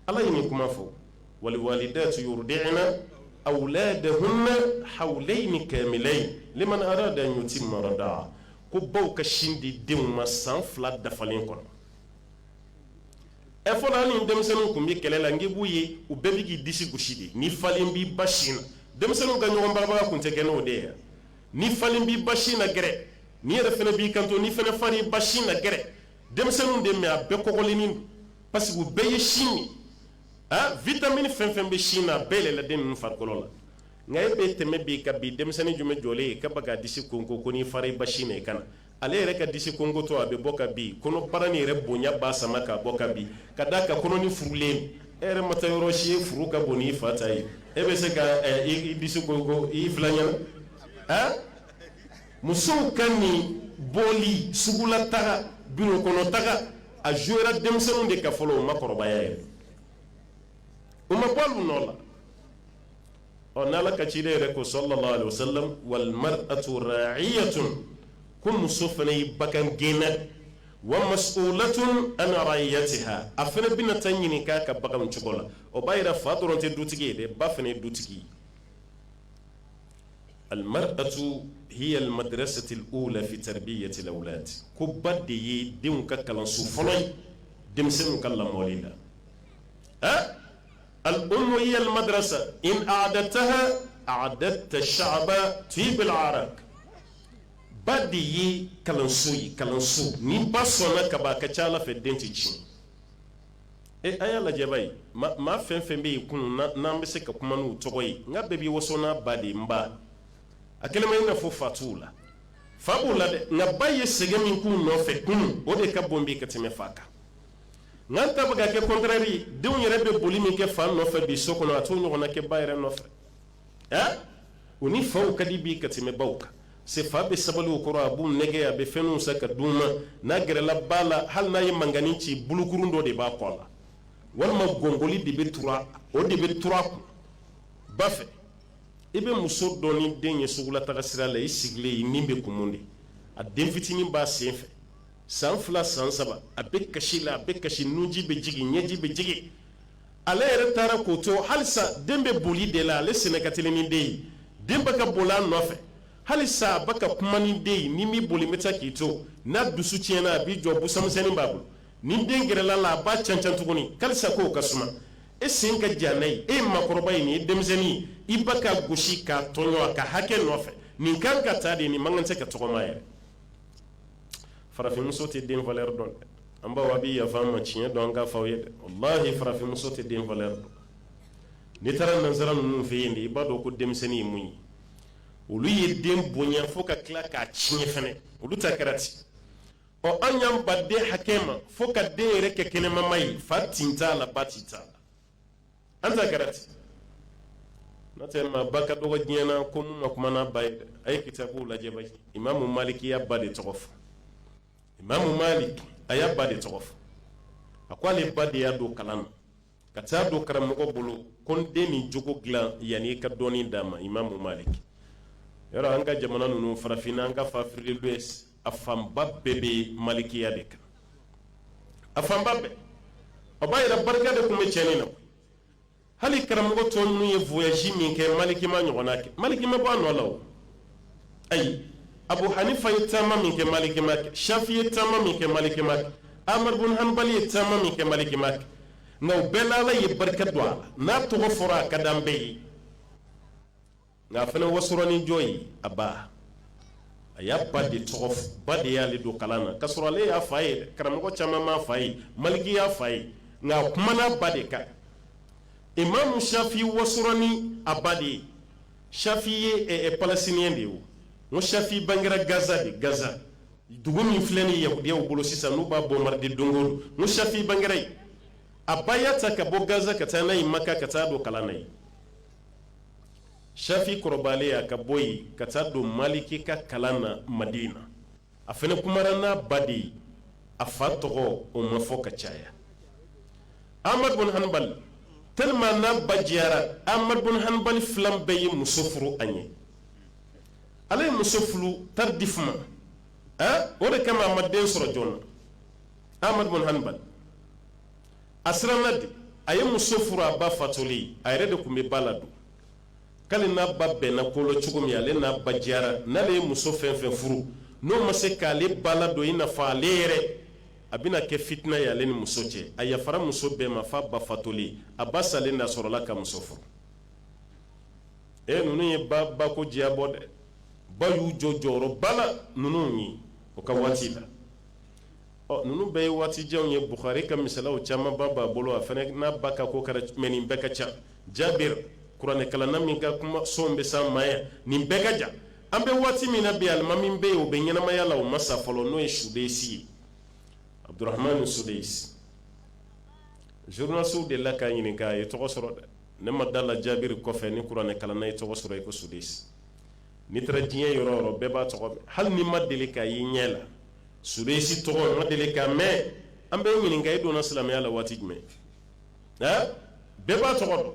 [SPEAKER 1] ala ye nin kuma fɔ waliwalidatu yuridiina awuladahuna hawulayini kamilayini liman arada an yutima radaa ko baw ka sin di denw ma san fila dafalen kɔnɔ ɛ fɔlɔ ni denmisɛnninw tun bɛ kɛlɛ la n b'u ye u bɛɛ bɛ k'i disi gosi de n'i falen b'i ba sin na denmisɛnninw ka ɲɔgɔn barabara tun tɛ kɛ n'o de ye n'i falen b'i ba sin na gɛrɛ nin yɛrɛ fana b'i kanto n'i fana fa ba sin na gɛrɛ denmisɛnninw de mɛ a bɛɛ kɔkɔlennin parce que u bɛɛ ye sin ye ah vitamine fɛn fɛn bɛ sin na a bɛɛ yɛlɛla den ninnu farikolo la nka e bɛ tɛmɛ bi ka bi denmisɛnnin jumɛn jɔlen ye k'a b'a ka disi konko ko n'i fara i ba sin na i ka na ale yɛrɛ ka disi konkotɔ a bɛ bɔ ka bin kɔnɔbara nin yɛrɛ bonya b'a sama ka bɔ ka bin ka d'a kan kɔnɔnin furulen e yɛrɛ ma taa yɔrɔ si e furu ka bon n'i fa ta ye e bɛ se ka i disi konko i filan ɲɛna ah musow ka nin boli sugula taga biro kɔnɔ taga a jouera denmisɛnninw de kan fɔlɔ o maakɔrɔbaya yɛrɛ o ma bɔ olu nɔ la ɔ n'ala ka ciden yɛrɛ ko sallallahu alaihi wasallam wal mar'atu ra'iyatun ko muso fana ye bagan gɛnna wa mas'ulatun an ra'iyatiha a fana bɛna taa ɲininka a ka baganw cogo la o b'a yira fa dɔrɔn tɛ dutigi ye dɛ ba fana ye dutigi ye al ummu hiya madrasatul ula fi tarbiyati la ko ba de ye denw ka kalanso fɔlɔ ye denmisɛnw ka lamɔ in la a al ummu hiya madrasa idha a'dadtaha a'dadta sha'ban tayyibal a'raq ba de ye kalanso ye kalanso ni ba sɔnna ka a ka ca ala fɛ den tɛ tiɲɛ ee a y'a lajɛba ye maa fɛn fɛn bɛ yen kunun n'an bɛ se ka kuma n'u tɔgɔ ye nka bɛɛ b'i waso n'a ba de n ba a kɛlen bɛ i n'a fɔ fa t'u la fa b'u la dɛ nka ba ye sɛgɛn min k'u nɔfɛ kunun o de ka bon bɛ ka tɛmɛ fa kan nka an ta bɛ ka kɛ contraire denw yɛrɛ bɛ boli min kɛ fa nɔfɛ bi so kɔnɔ a t'o ɲɔgɔnna kɛ ba yɛrɛ nɔfɛ eh? u ni faw ka di bi ka tɛmɛ baw kan c'est fa bɛ sabali u kɔrɔ a b'u nɛgɛn a bɛ fɛnw san ka d'u ma n'a gɛrɛla ba la hali n'a ye mankannin ci bolokurun dɔ de b'a kɔ la walima gɔngoli de bɛ tur'a o de bɛ tur'a kun ba fɛ i bɛ muso dɔ ni den ye sugulataga sira la i sigilen i ni bɛ kumu de a den fitinin b'a sen fɛ san fila san saba a bɛ kasi la a bɛ kasi nunji bɛ jigin ɲɛji bɛ jigin ale yɛrɛ taara k'o to halisa den bɛ boli de la ale senna ka teli ni den ye den bɛ ka boli a nɔfɛ halisa a bɛ ka kuma ni den ye n'i ma boli n bɛ taa k'i to n'a dusu tiɲɛna a b'i jɔ busamisɛnnin b'a bolo ni den gɛrɛl'a la a b'a cancan tuguni halisa k'o ka suma e sen ka jan n'a ye e ye maakɔrɔba ye nin ye denmisɛnnin ye i bɛ k'a gosi k'a tɔɲɔ a ka hakɛ nɔfɛ nin kan ka ta de nin man kan tɛ ka tɔgɔma yɛrɛ farafinmuso tɛ den valeur dɔn an baw a bɛ yafa an ma tiɲɛ don an k'a fɔ aw ye de wallahi farafinmuso tɛ den valeur dɔn n'i taara nansara ninnu fɛ yen de i b'a dɔn ko denmisɛnnin ye mun ye olu ye den bonya fo ka tila k'a tiɲɛ fana olu ta kɛra ten ɔ an yan ba den hakɛ ma fo ka den yɛrɛ kɛ kɛnɛmamaa ye fa tin t'a la ba tin t'a la an ta kɛra ten n'o tɛ maaba ka dɔgɔ diɲɛ na ko min ma kuma n'a ba ye dɛ a ye kitabuw lajɛ ba imamu maliki y'a ba de tɔgɔ fɔ imamu malik a y'a ba de tɔgɔ fɔ a ko ale ba de y'a don kalan na ka taa don karamɔgɔ bolo ko n den nin jogo dilan yanni i ka dɔnni d'a ma imamu malik yɔrɔ an ka jamana ninnu farafinna an k'a fɔ afrique de l'ouest a fanba bɛɛ bɛ malikiya de kan a fanba bɛɛ a ba yɛrɛ barika de tun bɛ cɛnin na hali karamɔgɔ tɔ ninnu ye voyage min kɛ maliki m'a ɲɔgɔnna kɛ maliki ma bɔ a nɔ la o ayi abu hanifa ye taama min kɛ maliki m'a kɛ shafi ye taama min kɛ maliki m'a kɛ ahmad bin hanbali ye taama min kɛ maliki m'a kɛ nka o bɛɛ la ala ye barika don a la n'a tɔgɔ fɔra a ka d'an bɛɛ ye nka a fana wasora ni jɔn ye a ba a y'a ba de tɔgɔ fɔ ba de y'ale don kalan na ka sɔrɔ ale y'a fa ye dɛ karamɔgɔ caman m'a fa ye maliki y'a fa ye nka a kumana a ba de kan imamu shafi wasora ni a ba de ye shafi ye ɛ ɛ palestiniyɛn de ye o n ko shafi bangera gaza de gaza dugu min filɛ ni yahudiyaw bolo sisan n'u b'a bombarde don o don n ko shafi bangera yen a ba y'a ta ka bɔ gaza ka taa n'a ye maka ka taa don kalan na yen Shafi kɔrɔbayalen a ka bɔ yen ka taa don maliki ka kalan na madina a fana kumana n'a ba de ye a fa tɔgɔ o ma fɔ ka caya ahmad bin hanbali de n'a ba diyara ahmad bin hanbali filan bɛɛ ye muso furu a ɲɛ ale ye muso furu tardivement o de kama a ma den sɔrɔ joona ahmad bin hanbali a siranna de a ye muso furu a ba fatulen a yɛrɛ de tun bɛ ba ladon k'ale n'a ba bɛnna ko la cogo min ale n'a ba diyara n'ale ye muso fɛn fɛn furu n'o ma se k'ale ba ladon i n'a fɔ ale yɛrɛ a bɛna kɛ fitina ye ale ni muso cɛ a yafara muso bɛɛ ma f'a ba fatulen a ba salen d'a sɔrɔla ka muso furu e ninnu ye ba ba ko diyabɔ dɛ ba y'u jɔ jɔyɔrɔba la ninnu ye o ka waati la ɔ ninnu bɛɛ ye waatijanw ye buhari ka misalaw camanba b'a bolo a fana n'a ba ka ko kɛra mɛ nin bɛɛ ka ca jabir kuranɛkalanna min ka kuma sɔn bɛ san maaya nin bɛɛ ka jan an bɛ waati min na bi alima min bɛ yen o bɛ ɲɛnamaya la o ma sa fɔlɔ n'o ye sudesi ye abdurahmani sudesi journalisiw delila k'a ɲininka a ye tɔgɔ sɔrɔ dɛ ne ma da la jabir kɔfɛ ni kuranɛkalanna ye tɔgɔ sɔrɔ i ko sudesi n'i taara diɲɛ yɔrɔ yɔrɔ bɛɛ b'a tɔgɔ mɛn hali n'i ma deli k'a y'i ɲɛ la sudesi tɔgɔ ma deli k'a mɛn an b'i ɲininka i donna silamɛya la waati jumɛn bɛɛ b'a tɔgɔ dɔn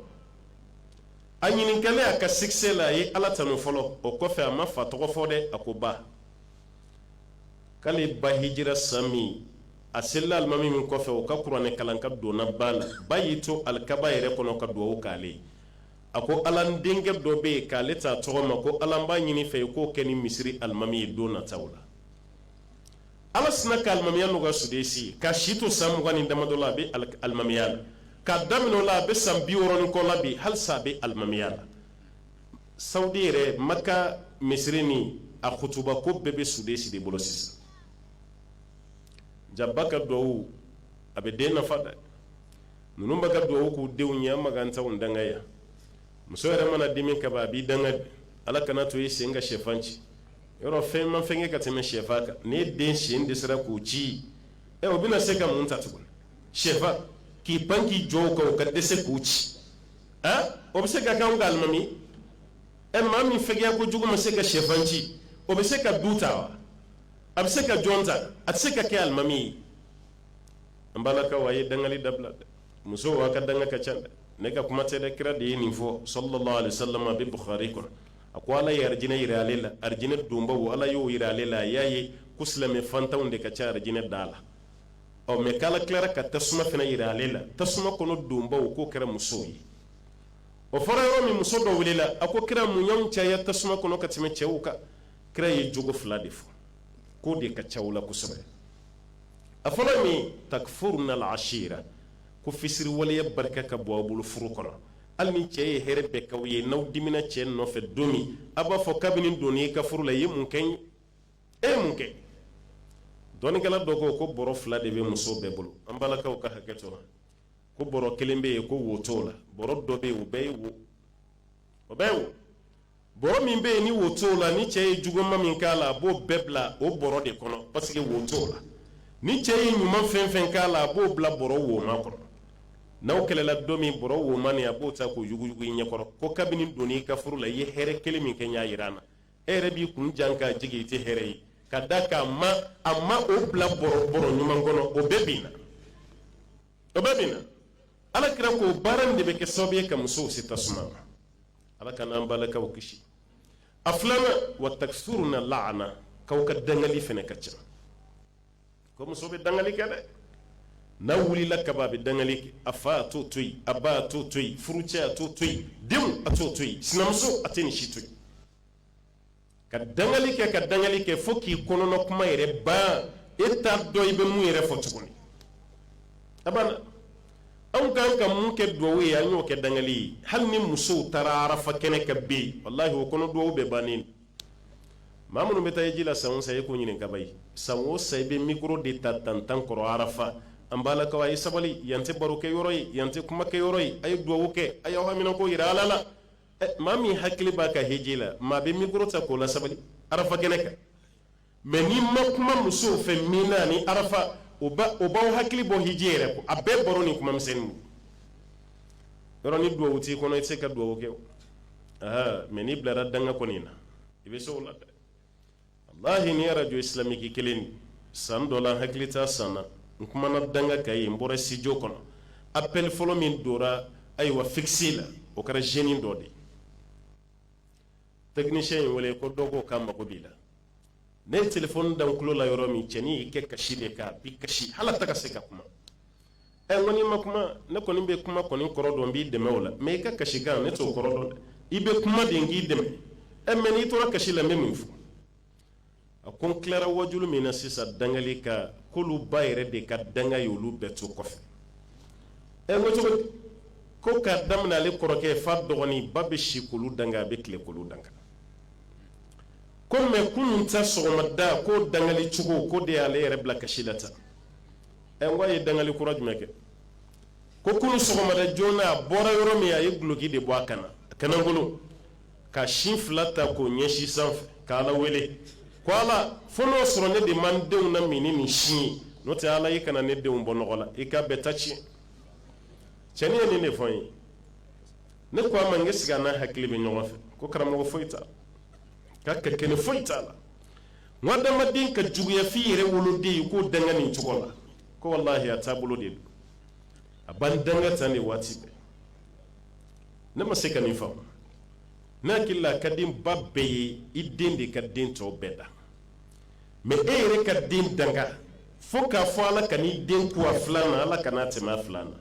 [SPEAKER 1] a ɲininka a ka sikisɛ la a ye ala tanu fɔlɔ o kɔfɛ a ma fa tɔgɔ fɔ dɛ a ko ba k'ale ba hijira san min a selila alimami min kɔfɛ o ka kuranɛ kalan kan donna ba la ba y'i to alikaba yɛrɛ kɔnɔ ka dugawu k'ale a ko ala denkɛ dɔ bɛ yen k'ale ta tɔgɔ ma ko ala n b'a ɲini i fɛ i k'o kɛ nin misiri alimami ye don nata la ala sinna ka alimamiya n'u ka sudesi k'a si to san mugan ni damadɔ la a bɛ alimamiya la k'a daminɛ o la a bɛ san bi wɔɔrɔ ni kɔ la bi halisa a bɛ alimamiya la sawudi yɛrɛ maka misiri ni a kutuba ko bɛɛ bɛ sudesi de bolo sisan jaa ba ka dugawu a bɛ den nafa dɛ ninnu bɛ ka dugawu k'u denw ɲɛ ma kansaw dan yan muso yɛrɛ mana dimi ka a b'i danga ala kan'a to i sen ka shɛfan ci yɔrɔ fɛn ma fɛgɛn ka tɛmɛ shɛfan kan ni den sen dɛsɛra k'u ci ɛ o bɛna se ka mun ta tuguni shɛfan k'i pan k'i jɔ a kan ka dɛsɛ k'u ci a o bɛ se ka kɛ alimami ɛ maa min fɛgɛya kojugu ma se ka shɛfan ci o bɛ se ka du ta wa a bɛ se ka jɔn ta a tɛ se ka kɛ alimami ye an balakaw a ye dangali dabila dɛ musow aw ka danga ka ca dɛ ne ka kuma tɛ dɛ kira de ye nin fɔ salla allahu alayhi wa sallama a bɛ bukari kɔnɔ a ko ala ye arijinɛ jira ale la arijinɛ donbaw ala y'o jira ale la a y'a ye ko silamɛ fantanw de ka ca arijinɛ da la ɔ mɛ k' ala tilara ka tasuma fana jira ale la tasuma kɔnɔ donbaw k'o kɛra musow ye o fɔra yɔrɔ min muso dɔ wulila a ko kira mun y'anw caya tasuma kɔnɔ ka tɛmɛ cɛw kan kira ye jogo fila de fɔ k'o de ka ca aw la kosɛbɛ a fɔlɔ min ta furu nasira ko fisiriwaleya barika ka bon aw bolo furu kɔnɔ hali ni cɛ ye hɛrɛ bɛɛ k'aw ye n'aw dimina cɛ nɔfɛ don min a b'a fɔ kabini n donna i ka furu la i ye mun kɛ n ye e mun kɛ dɔnnikɛla dɔ ko ko bɔrɔ fila de bɛ muso bɛɛ bolo an balakaw ka hakɛ to ko bɔrɔ kelen bɛ yen ko wo t'o la bɔrɔ dɔ bɛ yen o bɛɛ ye wo o bɛɛ wo bɔrɔ min bɛ yen ni wo t'o la ni cɛ ye juguma min k'a la a b'o bɛɛ bila o bɔrɔ de kɔnɔ parce que wo t'o la ni cɛ ye ɲuman fɛn fɛn k'a la a b'o bila bɔrɔ woma kɔnɔ n'aw kɛlɛla don min bɔrɔ woma nin a b'o ta k'o yuguyugu i ɲɛkɔrɔ ko kabini n donna i ka furu la i ye hɛrɛ kelen min kɛ n ye a yira n na e yɛrɛ b'i kun jan ka jigin i tɛ hɛrɛ ye ka d'a kan a ma o bila bɔrɔ bɔrɔ ɲuman kɔnɔ o bɛɛ binna o bɛɛ binna ala kira ko baara in de bɛ kɛ sababu ye ka musow se tasuma ma ala k'an n'an balakaw kisi a filanan wa takisuruna laana k'aw ka dangali fana ka ca ko muso bɛ dangali kɛ dɛ n'a wulila kaban a bɛ dangali kɛ a fa a t'o to yen a ba a t'o to yen furucɛ a t'o to yen denw a t'o to yen sinamuso a tɛ nin si to yen ka dangali kɛ ka dangali kɛ fo k'i kɔnɔma kuma yɛrɛ ban e t'a dɔn i bɛ mun yɛrɛ fɔ tuguni a anw kan ka min kɛ dugawu ye an y'o kɛ dangali ye hali ni musow taara arafa kɛnɛ kan bɛ yen walahi u kɔnɔ dugawu bɛɛ bannen maa minnu bɛ taa heji la san o san e k'o ɲininka b'a ye san o san i bɛ mikoro de ta tan tan kɔrɔ arafa an balakaw a ye sabali yan tɛ baro kɛ yɔrɔ ye yan tɛ kumakɛ yɔrɔ ye a ye dugawu kɛ a y'aw haminanko jira ala la maa min hakili b'a ka heji la maa bɛ mikoro ta k'o lasabali arafa kɛnɛ kan mɛ n'i ma kuma musow fɛ mina ni arafa o b'aw hakili bɔ heji yɛrɛ kɔ a bɛɛ baro ni kuma misɛnnin don yɔrɔ ni duwawu t'i kɔnɔ i tɛ se ka duwawu kɛ o mɛ n'i bilara danga kɔni na i bɛ se o la dɛ walahi nin arajo isilamiki kelen san dɔ la n hakili t'a san na n kumana danga kan yen n bɔra situdiyo kɔnɔ apɛli fɔlɔ min donna ayiwa fikisi la o kɛra zɛni dɔ de ye tɛkinisiyɛn ye n wele ko dɔw ka mago b'i la ne ye telefɔni da n tulo la yɔrɔ min cɛnin y'i kɛ kasi de kan bi kasi hali a tɛ ka se ka kuma ɛ n ko n'i ma kuma ne kɔni bɛ kuma kɔni kɔrɔ dɔn n b'i dɛmɛ o la mɛ i ka kasi kan ne t'o kɔrɔ dɔn dɛ i bɛ kuma de n k'i dɛmɛ ɛ mɛ n'i tora kasi la n bɛ mun fɔ a ko n tilara wajulu min na sisan dangali kan k'olu ba yɛrɛ de ka danga ye olu bɛɛ to kɔfɛ ɛ n ko cogo di ko k'a daminɛ ale kɔrɔkɛ fo dɔgɔnin ba bɛ si k'olu danga a bɛ tilen k'olu danga ko mɛ kunun ta sɔgɔmada k'o dangali cogo k'o de y'ale yɛrɛ bila kasi la tan ɛ n ko a ye dangali kura jumɛn kɛ ko kunun sɔgɔmada joona a bɔra yɔrɔ min a ye duloki de bɔ a kan na a kan na bolo ka sin fila ta k'o ɲɛsin sanfɛ ka ala wele ko ala fo n'o sɔrɔ ne de ma n denw lamin ni nin sin ye n'o tɛ ala i kana ne denw bɔ nɔgɔ la i k'a bɛɛ ta tiɲɛ cɛnin ye nin de fɔ n ye ne ko a ma n ko ɛsike a n'a hakili bɛ ɲɔgɔn fɛ ko karamɔgɔ foyi t'a la a ka kɛnɛ foyi t'a la hadamaden ka juguya f'i yɛrɛ woloden e k'o danga nin cogo la ko walahi a taabolo de don a b'an danga tan de waati bɛɛ ne ma se ka nin faamu ne hakili la a ka di ba bɛɛ ye i den de ka den tɔw bɛɛ dan mɛ e yɛrɛ ka den danga fo k'a fɔ ala kan'i den kun a filan na ala kan'a tɛmɛ a filan na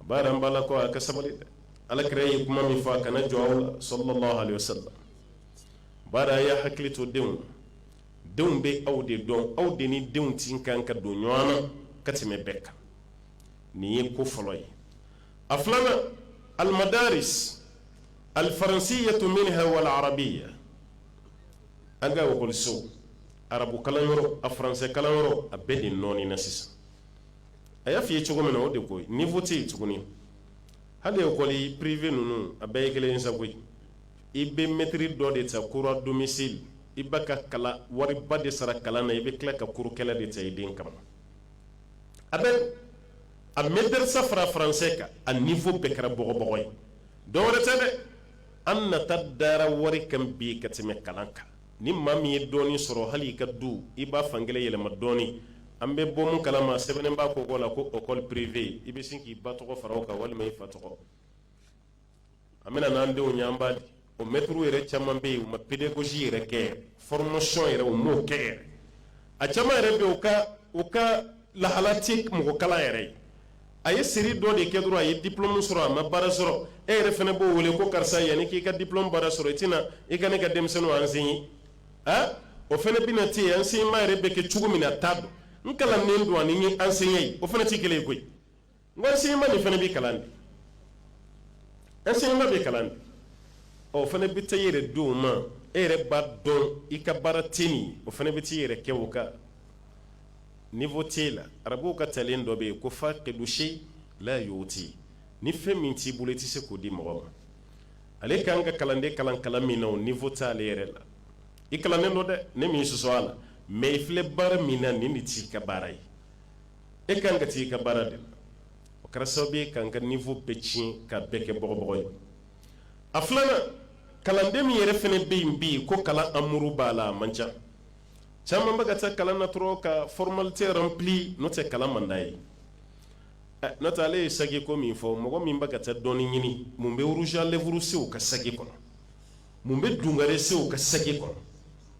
[SPEAKER 1] a b'a yɛrɛ an balakaw a ka sabali dɛ ala kira ye kuma min fɔ a kana jɔ aw la sallallahu alaihi wasallam baara y'a hakili to denw denw bɛ aw de dɔn aw de ni denw ka kan ka don ɲɔgɔn na ka tɛmɛ bɛɛ kan nin ye ko fɔlɔ ye a filanan alimadarisi alifaransiya tun min wala arabiya an ka waliso arabu kalanyɔrɔ a faransɛ kalanyɔrɔ a bɛɛ de nɔɔnina sisan a y'a fɔ ye cogo min na o de ko niveau tɛ yen tuguni hali école privée ninnu a bɛɛ ye kelen ye sa koyi i bɛ mɛtiri dɔ de ta cours à domicile i b'a ka kalan wariba de sara kalan na i bɛ tila ka cours kɛla de ta i den kama a bɛ a mɛtsa fara faransɛ kan a niveau bɛɛ kɛra bɔgɔbagaw ye dɔwɛrɛ tɛ dɛ an nata dara wari kan bi ka tɛmɛ kalan kan ni maa min ye dɔɔnin sɔrɔ hali i ka du i b'a fan kelen yɛlɛma dɔɔnin an bɛ bɔ min kala ma sɛbɛn b'a kogo la ko école privée i bɛ sin k'i ba tɔgɔ fara a kan walima i fa tɔgɔ an bɛ na n'an denw ye an b'a di o mɛtiriw yɛrɛ caman bɛ yen u ma pedagogie yɛrɛ kɛ formation yɛrɛ u m'o kɛ yɛrɛ a caman yɛrɛ bɛ yen u ka u ka lahala tɛ mɔgɔ kalan yɛrɛ ye a ye seri dɔ de kɛ dɔrɔn a ye diplôme sɔrɔ a ma baara sɔrɔ e yɛrɛ fana b'o wele ko karisa yanni k'i ka diplôme baara sɔrɔ i tɛ na i ka ne ka denmisɛnninw enseigner ah o fana bɛna to yen enseignement yɛrɛ bɛ kɛ cogo min na a t'a dɔn n kalannen don ani n ye enseignant ye o fana tɛ kelen ye koyi wa enseignement de fana bɛ kalan enseignement bɛ kalan o fana bɛ taa e yɛrɛ don ma e yɛrɛ b'a dɔn i ka baara tɛ min o fana bɛ taa i yɛrɛ kɛ o kan niveau t'a la arabuw ka talen dɔ bɛ yen ko fakidu sayi la yuti ni fɛn min t'i bolo i tɛ se k'o di mɔgɔ ma ale kan ka kalanden kalan kalan min na o niveau t'ale yɛrɛ la i kalannen don dɛ ne m'i sɔsɔ a la mais i filɛ baara min na nin de t'i ka baara ye e kan ka taa i ka baara de o kɛra sababu ye ka ka niveau bɛɛ tiɲɛ ka bɛɛ kɛ bɔbagaw ye a filanan kalanden min yɛrɛ fana bɛ yen bɛ yen ko kalan mago b'a la a man ca caman bɛ ka taa kalan na dɔrɔn ka formalité yɛrɛ bilen n'o tɛ kalan man d'a ye n'o tɛ ale ye saki ko min fɔ mɔgɔ min bɛ ka taa dɔɔnin ɲini mun bɛ rouge à lèvres se o ka saki kɔnɔ mun bɛ dugare se o ka saki kɔnɔ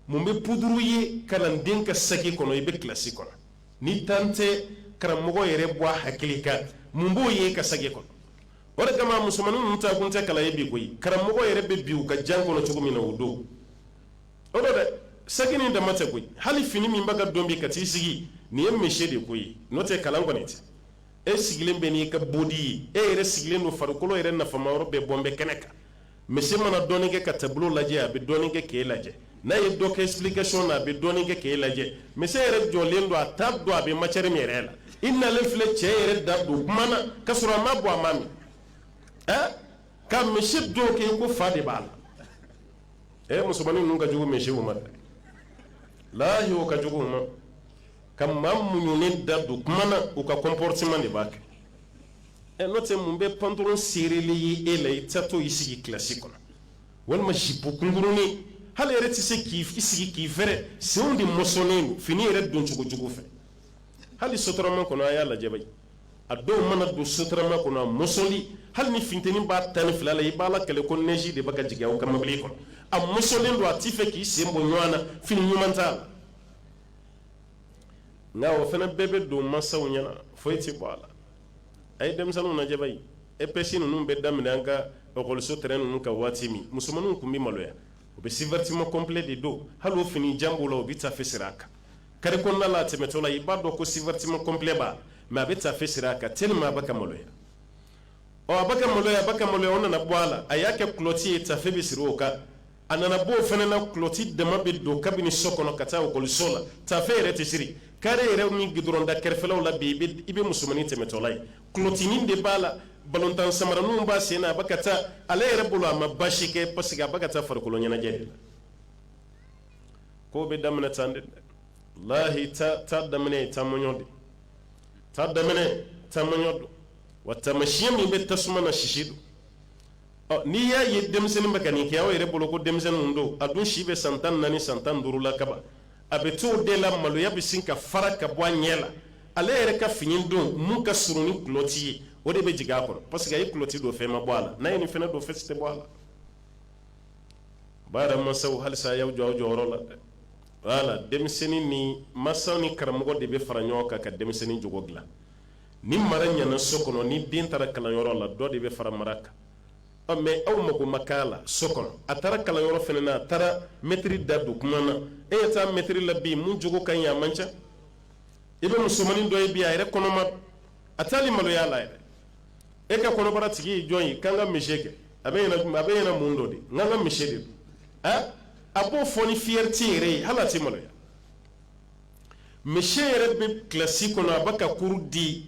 [SPEAKER 1] mun bɛ poudre ye kalanden ka saki kɔnɔ i bɛ kilasi kɔnɔ ni tan tɛ karamɔgɔ yɛrɛ bɔ a hakili kan mun b'o ye i ka saki kɔnɔ o de kama musomannin ninnu taakun tɛ kalan ye bi koyi karamɔgɔ yɛrɛ bɛ bin u ka jan kɔnɔ cogo min na o don o dɛ saki nin dama tɛ koyi hali fini min bɛ ka don bi ka t'i sigi nin ye monsieur de ko ye n'o tɛ kalan kɔni tɛ e sigilen bɛ n'i ka bodi ye e yɛrɛ sigilen don farikolo yɛrɛ nafama yɔrɔ bɛɛ bɔlen bɛ kɛnɛ kan misi mana dɔɔnin kɛ ka tableau lajɛ a bɛ dɔɔnin kɛ k'e lajɛ n'a ye dɔ kɛ explication na a bɛ dɔɔnin kɛ k'e lajɛ misi yɛrɛ jɔlen don a t'a dɔn a bɛ matière min yɛrɛ la i nalen filɛ cɛ yɛrɛ da don kuma na ka sɔrɔ a ma bɔ a ma min ɛɛ ka misi don k'i ko fa de b'a la ɛɛ musomanin ninnu ka jugu misiw ma dɛ lahi o ka jugu u ma ka maa muɲunen da don kuma na u ka comportement de b'a kɛ ɛ n'o tɛ mun bɛ pantalon serelen ye e la i tɛ to i sigi kilasi kɔnɔ walima jipo kunkurunin hali i yɛrɛ tɛ se k'i sigi k'i fɛrɛ senw de mɔsɔnnen don fini yɛrɛ don cogo cogo fɛ hali sotarama kɔnɔ a y'a lajɛ bayi a dɔw mana don sotarama kɔnɔ a mɔsɔlen hali ni funteni b'a tan ni fila la i b'a la kɛlɛ ko neige de bɛ ka jigin aw ka mobili kɔnɔ a mɔsɔlen don a t'a fɛ k'i sen bɔ ɲɔgɔn na fini ɲuman t'a la nka o fana bɛɛ bɛ don mansaw ɲɛna foyi tɛ bɔ a la a ye denmisɛnninw lajɛ bayi EPS ninnu bɛ daminɛ an ka ɔkɔliso terrain ninnu kan waati min musomanninw tun bɛ maloya u bɛ sous-vêtements complets de don hali o fini jan b'u la u bɛ tafe siri a kan carré kɔnɔna la a tɛmɛtɔ la i b'a dɔn ko sous-vêtement complet b'a la mais a bɛ tafe siri a kan tellement a bɛ ka maloya ɔ a bɛ ka maloya a bɛ ka maloya o nana bɔ a la a y'a kɛ culotte ye tafe bɛ siri o kan a nana b'o fana na kulɔti dama bɛ don kabini so kɔnɔ ka taa okɔliso la tafe yɛrɛ tɛ siri kare yɛrɛ ni gidɔrɔnda kɛrɛfɛlaw la bi i bɛ musomannin tɛmɛtɔla ye kulɔtinin de b'a la balontan samaraninw b'a sen na a bɛ ka taa ale yɛrɛ bolo a ma baasi kɛ parce que a bɛ ka taa farikolo ɲɛnajɛ de la ko bɛ daminɛ tan de lahi ta ta daminɛ ye taamɔɲɔ de ta daminɛ taamɔɲɔ don wa taamasiyɛn min bɛ tasuma na sisi don n'i y'a ye denmisɛnnin bɛ ka nin kɛ aw yɛrɛ bolo ko denmisɛnnin don a dun si bɛ san tan naani san tan duuru la kaban a bɛ to o de la maloya bɛ sin ka fara ka bɔ a ɲɛ la ale yɛrɛ ka fini don min ka surun ni kuloti ye o de bɛ jigin a kɔrɔ parce que a ye kuloti don fɛn ma bɔ a la n'a ye nin fana don fɛn tɛ bɔ a la ba yɛrɛ masaw halisa a y'aw jɔ aw jɔyɔrɔ la dɛ wala denmisɛnnin ni masaw ni karamɔgɔ de bɛ fara ɲɔgɔn kan ka denmisɛnnin cogo dilan ni mara ɲana so kɔnɔ ni den taara kalanyɔrɔ la dɔ de bɛ fara mara kan ɔ mais aw mako ma k'a la so kɔnɔ a taara kalanyɔrɔ fana na a taara mɛtiri da don kuma na e ye taa mɛtiri la bi min jogo ka ɲi a man ca i bɛ musomanin dɔ ye bi a yɛrɛ kɔnɔma a tɛ hali maloya la yɛrɛ e ka kɔnɔbara tigi ye jɔn ye k'an ka mise kɛ a b'i ɲɛna a b'i ɲɛna mun dɔ de n k'an ka mise de don a a b'o fɔ ni fiyɛriti yɛrɛ ye hali a tɛ maloya monsieur yɛrɛ bɛ kilasi kɔnɔ a bɛ ka kuru di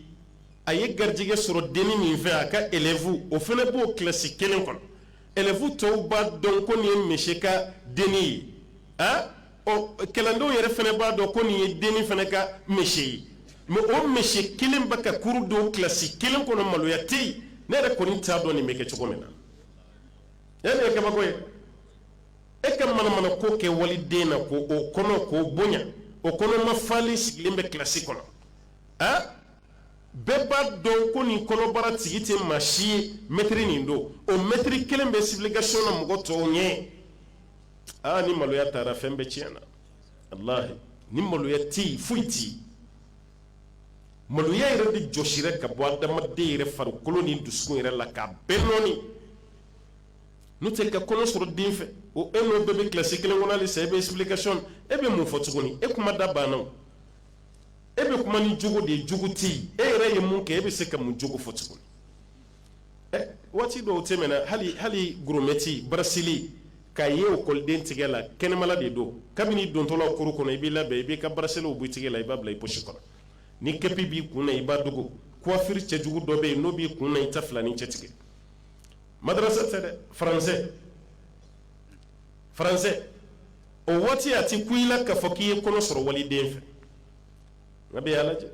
[SPEAKER 1] a ye garijɛgɛ sɔrɔ dennin min fɛ a ka élève o fana b'o kilasi kelen kɔnɔ élève tɔw b'a dɔn ko nin ye monsieur ka dennin ye a ɔ kalandenw yɛrɛ fana b'a dɔn ko nin ye dennin fana ka monsieur ye mɛ o monsieur kelen bɛ ka kuru di o kilasi kelen kɔnɔ maloya tɛ yen ne yɛrɛ kɔni t'a dɔn nin bɛ kɛ cogo min na e ye kabako ye e ka manamana ko kɛ waliden na ko o kɔnɔ k'o bonya o kɔnɔma falen sigilen bɛ kilasi kɔnɔ a bɛɛ b'a dɔn ko nin kɔnɔbara tigi tɛ maa si ye mɛtiri nin don o mɛtiri kelen bɛ explication na mɔgɔ tɔw ɲɛ aa ni maloya taara fɛn bɛɛ tiɲɛ na walahi ni maloya tɛ yen foyi tɛ yen maloya yɛrɛ de jɔsira ka bɔ adamaden yɛrɛ farikolo ni dusukun yɛrɛ la k'a bɛɛ nɔɔni n'o tɛ ka kɔnɔ sɔrɔ den fɛ o e n'o bɛɛ bɛ kilasi kelen kɔnɔ hali sisan e bɛ explication e bɛ mun fɔ tuguni e kuma da banna o e bɛ kuma ni jogo de ye jogo tɛ yen e yɛrɛ ye mun kɛ e bɛ se ka mun jogo fɔ tuguni ɛ eh, waati dɔw tɛmɛna hali hali goromɛti baraseli k'a ye ekɔliden tigɛ la kɛnɛmala de don kabini dontɔla cour kɔnɔ i b'i labɛn i b'i ka baraseliw b'i tigɛ la i b'a bila i posi kɔnɔ ni kɛpi b'i kun na i b'a dogo kuwafiri cɛjugu dɔ bɛ yen n'o b'i kun na i t'a filancɛ tigɛ madrasa tɛ dɛ français français o waati a ti kun i la k'a fɔ k'i ye kɔnɔ sɔrɔ waliden fɛ nka bi a lajɛ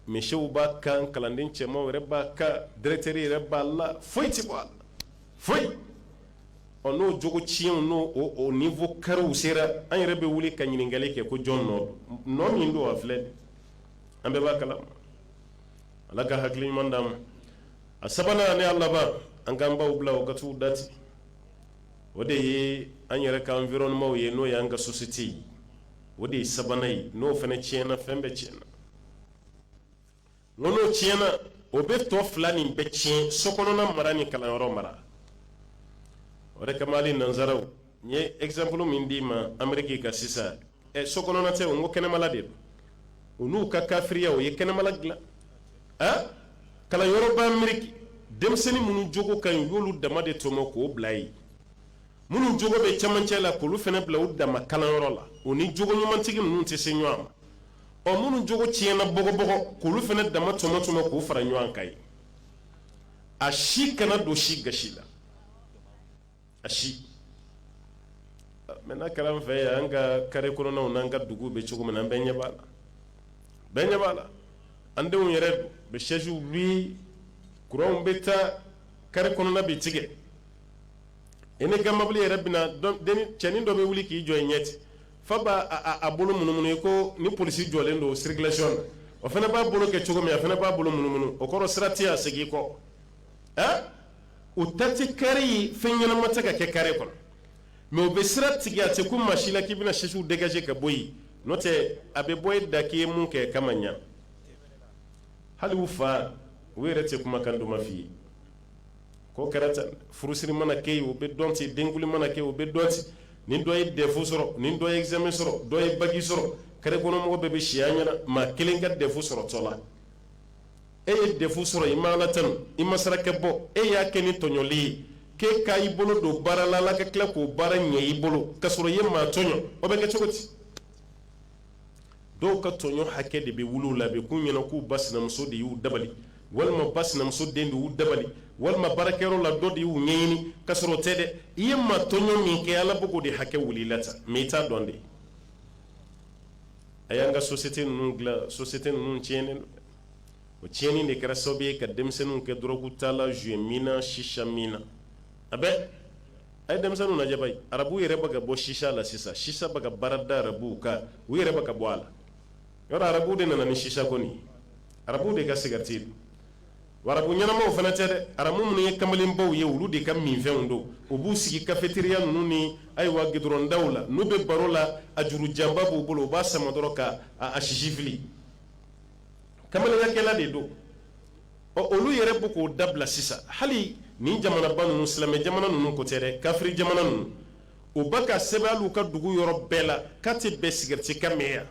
[SPEAKER 1] monsieurw b'a kan kalanden cɛmanw yɛrɛ b'a kan directeur yɛrɛ b'a la foyi ti bɔ a la foyi ɔ n'o jogo tiɲɛw n'o o o niveau kariw sera an yɛrɛ bɛ wuli ka ɲininkali kɛ ko jɔn nɔ don min don a filɛ an bɛɛ b'a kalama ala ka hakili ɲuman d'an ma a sabanan n'a laban an ka baw bila o katu dati o de ye an yɛrɛ ka environnementw ye n'o y'an ka sosiyete ye o de ye sabanan ye n'o fana tiɲɛna fɛn bɛɛ tiɲɛna n'o tiɲɛna o bɛ tɔ fila nin bɛɛ tiɲɛ so kɔnɔna mara ni kalanyɔrɔ mara o de kama nansaraw n ye ɛkizanpulu min d'i ma ameriki kan sisan ɛ so kɔnɔna tɛ o n ko kɛnɛmala de don u n'u ka kafiriya u ye kɛnɛmala dilan a kalanyɔrɔ b'ameriki denmisɛnnin minnu jogo ka ɲi u y'olu dama de tɔmɔ k'o bila yen minnu jogo bɛ cɛmancɛ la k'olu fana bila u dama kalanyɔrɔ la o ni jogo ɲumantigi ninnu tɛ se ɲɔgɔn ma ɔ minnu jogo tiɲɛna bɔgɔbɔgɔ k'olu fana dama tɔmɔ tɔmɔ k'u fara ɲɔgɔn kan yen a si kana don si gasi la a si mɛ n'a kɛra fɛ ye an ka kare kɔnɔw n'an ka dugu bɛ cogo min na an bɛɛ ɲɛ b'a la bɛɛ ɲɛ b'a la an denw yɛrɛ bɛ sɛsiw bi kuranw bɛ taa kare kɔnɔna bɛɛ tigɛ i n'i ka mɔbili yɛrɛ cɛnin dɔ bɛ wuli k'i jɔ i ɲɛti fa b'a bolo munumunu i ko ni polisi jɔlen don sirikilasiyɔn na o fana b'a bolo kɛ cogo min a fana b'a bolo munumunu o kɔrɔ sira tɛ segin kɔ o tati kare ye fɛn ɲɛnama tɛ ka kɛ kare kɔnɔ mɛ u bɛ sira tigɛ a tɛ kun maa si la k'i bɛna sɛsiw degaze ka bɔ yen n'o tɛ a bɛ bɔ e da k'i ye mun kɛ kama ɲɛ hali u faw yɛrɛ tɛ kuma kan dɔma f'i ye ko kɛra furusiri mana kɛ yen u bɛ dɔn ten denkundi mana kɛ u bɛ dɔn ten ni dɔ ye dɛfu sɔrɔ ni dɔ ye ɛgizamɛ sɔrɔ dɔ ye baki sɔrɔ karekɔnɔmɔgɔ bɛɛ bɛ si a ɲɛ na maa kelen ka dɛfu sɔrɔ tɔɔ la e ye dɛfu sɔrɔ i ma ala tanu i ma saraka bɔ e y'a kɛ ni tɔɲɔli ye k'e ka i bolo don baara la ala ka tila k'o baara ɲɛ i bolo ka sɔrɔ i ye maa tɔɲɔ o bɛ kɛ cogo di dɔw ka tɔɲɔ hakɛ de bɛ wuli u la bi k'u ɲɛna k'u ba sinamuso de y'u dabali walima ba sinamuso den de y'u dabali walima baarakɛyɔrɔ la dɔ de y'u ɲɛɲini ka sɔrɔ o tɛ dɛ i ye maa tɔɲɔ min kɛ ala bɛ k'o de hakɛ wuli i la tan mɛ i t'a dɔn dɛ a y'an ka sosiyete ninnu dilan sosiyete ninnu tiɲɛnen don o tiɲɛnin de kɛra sababu ye ka denmisɛnninw kɛ dɔrɔgutala zo minna sisa minna a bɛ a ye denmisɛnnin lajɛ arabu yɛrɛ bɛ ka bɔ sisa la sisan sisa ka baarada arabu ka u yɛrɛ bɛ ka bɔ a la yɔrɔ arabu de nana ni sisa kɔni arabu de ka sigɛriti arabu ɲɛnamaw fana tɛ dɛ arabu minnu ye kamalenbaw ye olu de ka minfɛnw don u b'u sigi kafeteriya ninnu ni ayiwa g dɔrɔnda la n'u bɛ baro la a jurujanba b'u bolo u b'a sama dɔrɔn ka a sisi fili kamalenyakɛla de don ɔ olu yɛrɛ bɛ k'o dabila sisan hali ni jamanaba ninnu silamɛ jamana ninnu ko tɛ dɛ kafiri jamana ninnu u bɛ k'a sɛbɛn alu ka dugu yɔrɔ bɛɛ la k'a tɛ bɛn sigɛriti ka min yan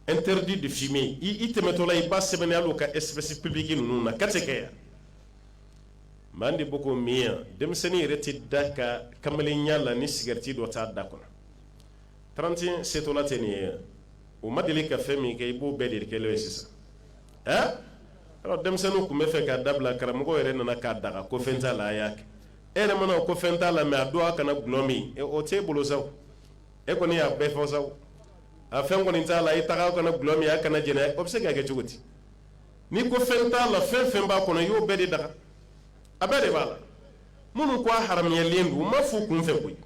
[SPEAKER 1] interdit de fumer i i tɛmɛtɔ la i b'a sɛbɛnnen ye alu ka espace public ninnu na k'a tɛ kɛ yan maa de bɛ k'o min yan denmisɛnnin yɛrɛ tɛ da a ka kamalenya la ni sigɛriti dɔ t'a da kɔnɔ tranti setɔla tɛ nin ye u ma deli ka fɛn min kɛ i b'o bɛɛ de kɛ ye sisan ɛ denmisɛnninw tun b'a fɛ k'a dabila karamɔgɔ yɛrɛ nana k'a daga ko fɛn t'a la a y'a kɛ e yɛrɛ mana ko fɛn t'a la mɛ a don a kana dɔlɔ min o tɛ bolo sa e kɔni y'a bɛɛ fɔ sa a fɛn kɔni t'a la i taga kana dɔlɔ min a kana jɛnɛ o bɛ se ka kɛ cogo di n'i ko fɛn t'a la fɛn fɛn b'a kɔnɔ i y'o bɛɛ de daga a bɛɛ de b'a la minnu ko a haramuyalen don u m'a fɔ kunfɛ koyi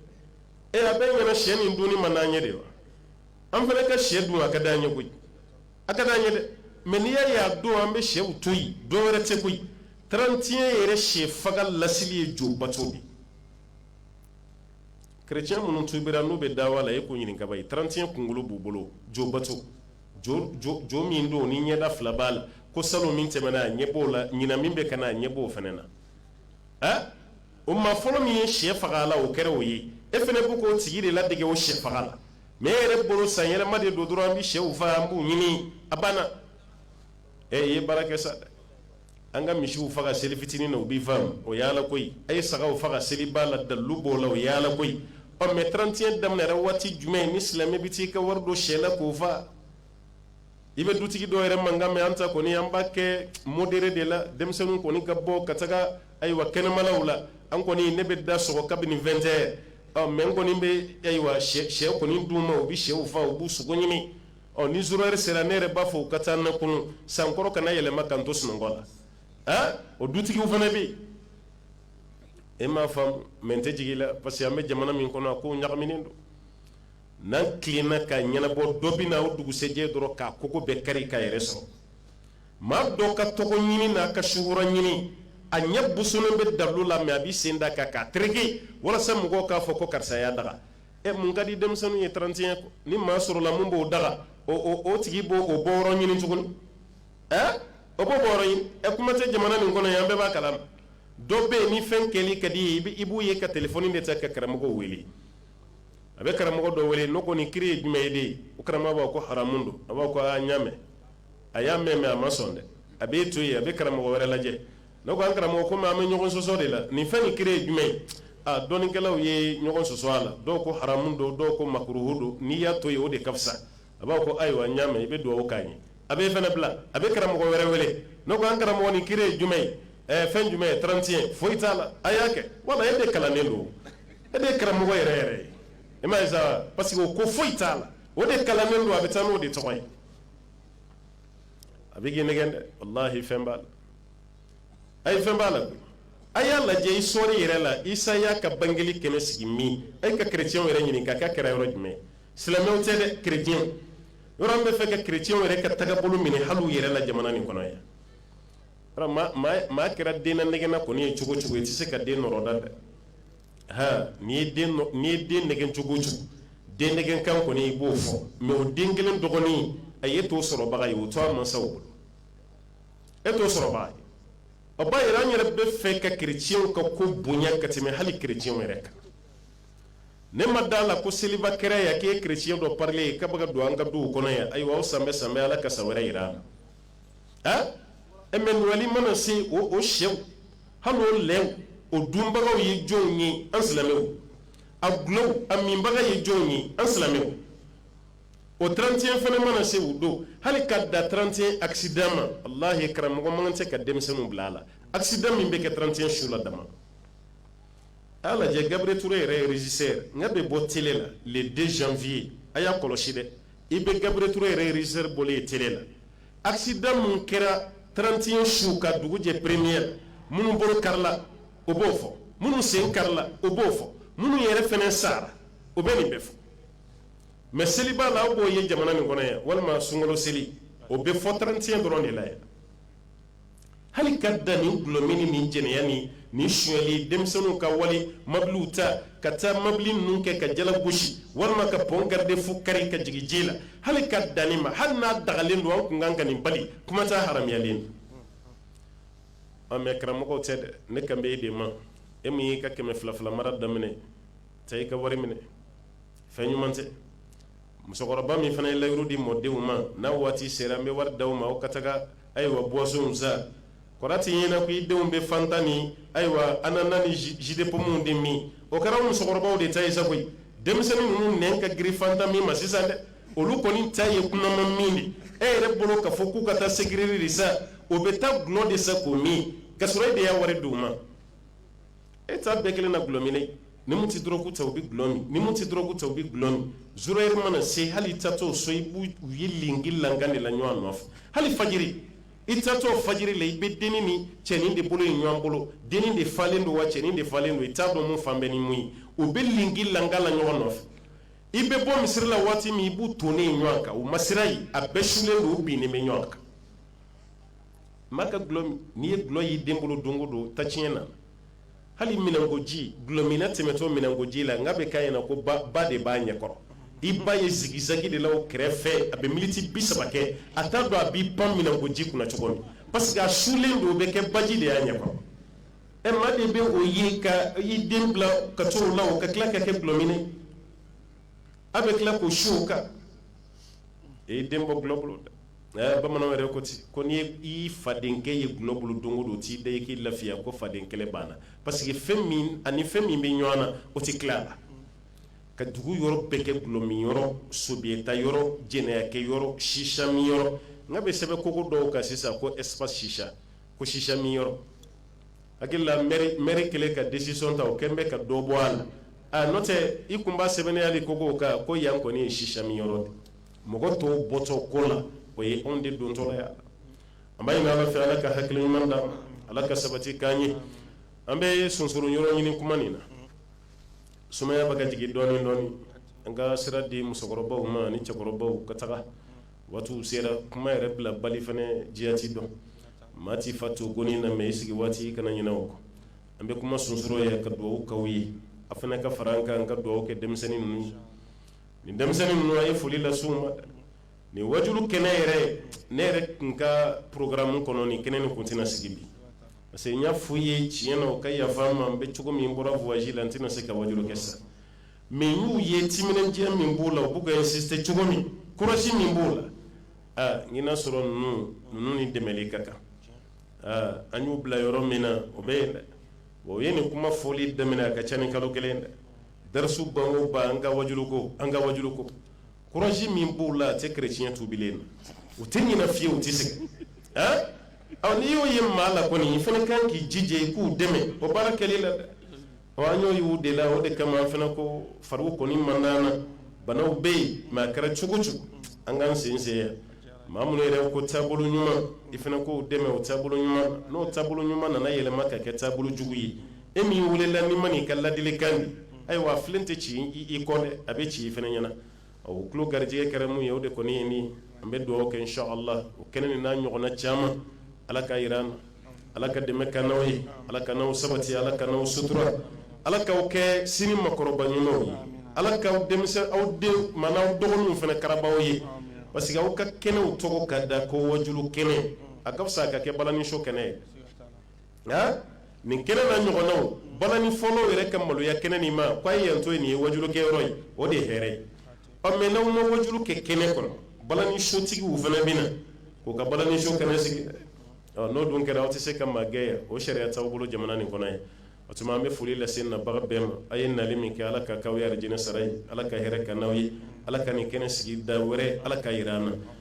[SPEAKER 1] e a b'e ɲɛ na shɛ nin dunni man d'an ye de wa an fana ka shɛ dun a ka d'an ye koyi a ka d'an ye dɛ mɛ n'i y'a ye a don an bɛ shɛw to yen dɔ wɛrɛ tɛ koyi 31 yɛrɛ shɛ faga lasili ye jo bato de kerecɛn minnu tubira n'u bɛ dawa la e k'o ɲininka bayo 31 kunkolo b'u bolo jo bato jo jo jo min don ni ɲɛda fila b'a la ko salon min tɛmɛna a ɲɛ b'o la ɲinan min bɛ ka na a ɲɛ b'o fana na ɛ o maa fɔlɔ min ye shɛ faga a la o kɛra o ye e fana b'o ko tigi de ladege o shɛ faga la mɛ e yɛrɛ bolo san yɛlɛma de don dɔrɔn an bɛ shɛw faga an b'u ɲimi a banna ɛ i ye baara kɛ sa dɛ an ka misiw faga seli fitinin na o bɛ faamu o y'ala ko ye a ye sagaw faga seliba la dalilu b'o la o y'ala ko ye ɔ mɛ 31 daminɛra waati jumɛn ni silamɛ bɛ t'i ka wari don shɛ la k'o faga i bɛ dutigi dɔw yɛrɛ mankan mɛn an ta kɔni an b'a kɛ modéré de la denmisɛnnin kɔni ka bɔ ka taga ayiwa kɛnɛmanaw la an kɔni ne bɛ da sɔgɔ kabini nin2 tɛ ɔ mɛ n kɔni bɛ ayiwa shɛ kɔni dun ma u bɛ shɛw faa u b'u sogo ɲimi ɔ ni zéro heure sera ne yɛrɛ b'a fɔ u ka taa ne kunun san kɔrɔ kana yɛlɛma ka n to sunɔgɔ la a o dutigiw fana bɛ yen e m'a faamu mɛ n tɛ jigin u la parce que an bɛ jamana min kɔnɔ a ko ɲagaminen don n'an tilala ka ɲɛnabɔ dɔ bɛ na o dugusɛjɛ dɔrɔn k'a kogo bɛɛ kari ka yɛrɛ sɔrɔ maa dɔ ka tɔgɔ ɲini n'a ka sukaro ɲini a ɲɛ bosonnen bɛ dalu la mɛ a b'i sen da a kan k'a tereke walasa mɔgɔw k'a fɔ ko karisa y'a daga ɛ mun ka di denmisɛnninw ye 31 ni maa sɔrɔla min b'o daga o tigi b'o o bɔyɔrɔ ɲini tuguni ɛ o b'o bɔ ɲini ɛ kuma tɛ jamana nin kɔnɔ ye an bɛɛ b'a kalama dɔ bɛ yen ni fɛn kɛli ka d'i ye i b'u ye ka telefɔni de ta ka karamɔgɔ wele a bɛ karamɔgɔ dɔ wele n ko nin kiri ye jumɛn ye dɛ o karamɔgɔ b'a ko haramu don a b'a ko a n y'a mɛn a y'a mɛn mɛ a ma sɔn dɛ a b'i to yen a bɛ karamɔgɔ wɛrɛ lajɛ n ko an karamɔgɔ kɔmi an bɛ ɲɔgɔn sɔsɔ de la nin fɛn nin kiri ye jumɛn ye a dɔnnikɛlaw ye ɲɔgɔn sɔsɔ a la dɔw ko haramu don dɔw ko makuruhu don n'i y'a to yen o de ka fisa a b'a ko ayiwa n y'a mɛn a bɛ dugawu k'a ye a b'e fana bila a bɛ karamɔgɔ wɛrɛ wele ne ko an karamɔgɔ nin kiri ye jumɛn ye ɛɛ fɛn jumɛn ye 31 foyi t'a la a y'a kɛ walahi e de kalannen don e de ye karamɔgɔ yɛrɛ yɛrɛ ye e m'a ye sa parce que o ko foyi t'a la o de kalannen don a bɛ taa n'o de tɔgɔ ye a bɛ k'i nɛgɛn dɛ walahi fɛn b'a la a ye fɛn b'a la koyi a y'a lajɛ histoire yɛrɛ la isa y'a ka bangeli kɛnɛ sigi min a ye ka kerecɛnw yɛrɛ ɲininka k'a kɛra yɔrɔ jumɛn ye silamɛw tɛ dɛ kerecɛn yɛrɛ bɛ fɛ ka kerecɛnw yɛrɛ ka tagabolo minɛ hali u yɛrɛ la jamana nin kɔnɔ yan maa kɛra den nɛgɛnna kɔni ye cogo o cogo i tɛ se ka den nɔrɔ da dɛ han n'i ye den n'i ye den nɛgɛn cogo o cogo den nɛgɛn kan kɔni i b'o fɔ mɛ o den kelen dɔgɔnin a ye t'o sɔrɔbaga ye o to a mansaw bolo e t'o sɔrɔbaga ye o b'a yira an yɛrɛ bɛ fɛ ka kerecɛnw ka ko bonya ka tɛmɛ hali kerecɛnw yɛrɛ kan ne ma da a la ko seliba kɛra yan k'e kereciyɛn dɔ parilen ye k'a bɛ ka don an ka duw kɔnɔ yan ayiwa aw sanbɛ sanbɛ ala ka san wɛrɛ yira an na a e mɛ nowɛli mana se o o sɛw hali o lɛw o dunbagaw ye jɔnw ye an silamɛw a dulɔw a minbaga ye jɔnw ye an silamɛw o 31 fana mana se o don hali ka da 31 accident ma walahi karamɔgɔ man kan tɛ ka denmisɛnninw bila a la accident min bɛ kɛ 31 su la dama a lajɛ gabri ture yɛrɛ rezisɛri bɛ bɔ tele la le deux janvier a y'a kɔlɔsi dɛ i bɛ gabri ture yɛrɛ rezisɛri bɔlen ye tele la accident minnu kɛra trantiɲɛ su ka dugujɛ peremiye minnu bolo karila o b'o fɔ minnu sen karila o b'o fɔ minnu yɛrɛ fana sara o bɛ nin bɛɛ fɔ mɛ seliba la aw b'o ye jamana nin kɔnɔ yan walima sunkalo seli o bɛ fɔ trantiɲɛ dɔrɔn de la yan hali ka da nin dulɔmin ni jɛnɛya ni ni sonyali denmisɛnninw ka wali mabiliw ta ka taa mabili ninnu kɛ ka jala gosi walima ka pɔn garde-fou kari ka jigin ji la hali ka da nin ma hali n'a dagalen don an kun kan ka nin bali kuma t'a haramuyalen don an mɛ karamɔgɔw tɛ dɛ ne kan bɛ e de ma e min y'i ka kɛmɛ fila fila mara daminɛ ta i ka wari minɛ fɛn ɲuman tɛ musokɔrɔba min fana ye layidu di mɔdenw ma n'a waati sera an bɛ wari d'aw ma aw ka taga ayiwa buwasɔnw sa kɔrɔ a t'i ɲɛna ko i denw bɛ fanta min ayiwa anana ni jus de pomme de min o kɛra musokɔrɔbaw de ta ye sa koyi denmisɛnnin ninnu nɛn ka girin fanta min ma sisan dɛ olu kɔni ta ye kunaman min de e yɛrɛ bolo ka fɔ k'u ka taa sucrerie de san o bɛ taa dulɔ de san k'o min ka sɔrɔ e de y'a wari di u ma e ta bɛɛ kelen na dulɔ minɛ ni min tɛ dɔrɔgu ta u bɛ dulɔ min ni min tɛ dɔrɔgu ta u bɛ dulɔ min zéro heure mana se hali i tatɔ so i b'u u ye lenki lankan de la ɲɔgɔn nɔfɛ hali fajiri i tatɔ fajiri la i bɛ dennin ni cɛnin de bolo ye ɲɔgɔn bolo dennin de falen don wa cɛnin de falen don i t'a dɔn mun fan bɛɛ ni mun ye u bɛ lenki lankan la ɲɔgɔn nɔfɛ i bɛ bɔ misiri la waati min i b'u tonnen ye ɲɔgɔn kan u masira ye a bɛɛ sulen don u binnen bɛ ɲɔgɔn kan maa ka dulɔ min n'i ye dulɔ y'i den bolo don o don trantiɲɛ na hali minɛnkoji dulɔminna tɛmɛtɔ minɛnkoji la nka a bɛ k'a ɲɛna ko ba ba de b'a ɲɛkɔrɔ i b'a ye zigizagi de la o kɛrɛfɛ a bɛ miniti bi saba kɛ a t'a dɔn a b'i pan minɛnkoji kunna cogo min parce que a sulen don o bɛ kɛ baji de y'a ɲɛkɔrɔ ɛ maa de bɛ o ye ka i den bila ka to o la o ka tila ka kɛ dulɔminna a bɛ tila k'o su o kan e den bɔ dulɔ bolo dɛ Ɛɛ bamananw yɛrɛ ko ten, ko n'i fadenkɛ ye dulɔ bolo don o don, o t'i da i k'i lafiya ko faden kɛlɛ banna parce que fɛn min ani fɛn min bɛ ɲɔgɔn na, o tɛ tila a la, ka dugu yɔrɔ bɛɛ kɛ dulɔ min yɔrɔ, sobiyeta yɔrɔ, jɛnɛyakɛ yɔrɔ, sisa min yɔrɔ, a bɛ sɛbɛn kogo dɔw kan sisan ko espace chicha, ko sisa min yɔrɔ, n hakili la maire kɛlen ka decision ta o kɛlen bɛ ka dɔ bɔ a la, aa n'o tɛ i tun b'a sɛbɛnnen ye de kogo kan ko yan kɔni ye sisa min yɔrɔ ye. mɔgɔ tɔw bɔtɔ ko la o ye anw de don tɔgɔ yan an b'a ala fɛ ala ka hakili ɲuman da ala ka sabati k'an ye an bɛ sonsoro yɔrɔ ɲini kuma nin na sumaya bɛ ka jigin dɔɔnin dɔɔnin an ka sira di musokɔrɔbaw ma ni cɛkɔrɔbaw ka taga waati sera kuma yɛrɛ bila bali fana jati dɔn maa tɛ fa to gɔni na mɛ i sigi waati kana ɲinɛ o kɔ an bɛ kuma sonsoro yen ka dugawu k'aw ye aw fana ka fara an kan an ka dugawu kɛ denmisɛnnin ninnu nin denmisɛnnin ninnu ye foli lase u ma nin wajuli kɛnɛ yɛrɛ ne yɛrɛ tun ka porogaramu kɔnɔ nin kɛnɛ nin tun tɛna sigi bi parce que n y'a fɔ u ye tiɲɛ na u ka yafa n ma n bɛ cogo min n bɔra voyage la n tɛna se ka waju kɛ sa mɛ n'u ye timinandiya min b'u la u bɛ sise cogo min kɔlɔsi min b'u la aa n y'a sɔrɔ ninnu ninnu ni dɛmɛ ka kan aa an y'u bila yɔrɔ min na o bɛ yen dɛ o ye nin kuma fɔli daminɛ a ka ca ni kalo kelen dɛ Dasu baw ban an ka waju ko an ka waju ko kuraji min b'u la a tɛ kec tubi na u tɛ ɲina fiyewu u tɛ se ɔ n'i y'o ye maa la kɔni i fana ka kan k'i jija i k'u dɛmɛ o baara kɛli la dɛ ɔ an y'o y'u de la o de kama an fana ko fari kɔni man di n na banaw bɛ yen mɛ a kɛra cogo o cogo an k'an sensen yan maa minnu yɛrɛ ko taabolo ɲuman i fana k'o dɛmɛ o taabolo ɲuman n'o taabolo ɲuman nana yɛlɛma ka kɛ taabolo jugu ye e min y'u wele la ni ma ka laadilikan ye ayiwa a filen tɛ ci i kun a bɛ ci i fana ɲɛna o tulo garijɛgɛ kɛra min ye o de kɔni ye nin an bɛ dugawu kɛ sɔ la o kɛnɛ nin n'a ɲɔgɔnna caman ala k'a jira an na ala ka dɛmɛ k'an n'aw ye ala k'an n'aw sabati ala k'an n'aw sutura ala k'aw kɛ sini makɔrɔba ɲumanw ye ala ka aw denmisɛn aw den ma n'aw dɔgɔninw fana kararababaa ye parce que aw ka kɛnɛw tɔgɔ ka da ko waju kɛnɛ a ka fisa a ka kɛ balaniso kɛnɛ ye nin kɛnɛ n'a ɲɔgɔnnaw balanifɔla yɛrɛ ka maloya kɛnɛ nin ma k'a ye yan to nin ye wajukɛ yɔrɔ ye o de hɛrɛ ye ɔ mɛ n'aw ma waju kɛ kɛnɛ kɔnɔ balanisotigiw fana bɛ na k'u ka balaniso kɛnɛ sigi dɛ ɔ n'o dun kɛra aw tɛ se ka maa gɛn yan o sariya t'aw bolo jamana nin kɔnɔ ye o tuma an bɛ foli lase nabaga bɛɛ ma aw ye nali min kɛ ala k'o k'aw ye arijinɛ sara ye ala ka hɛrɛ k'an n'aw ye ala ka nin kɛnɛ sigi da wɛrɛ ala k'a jira an na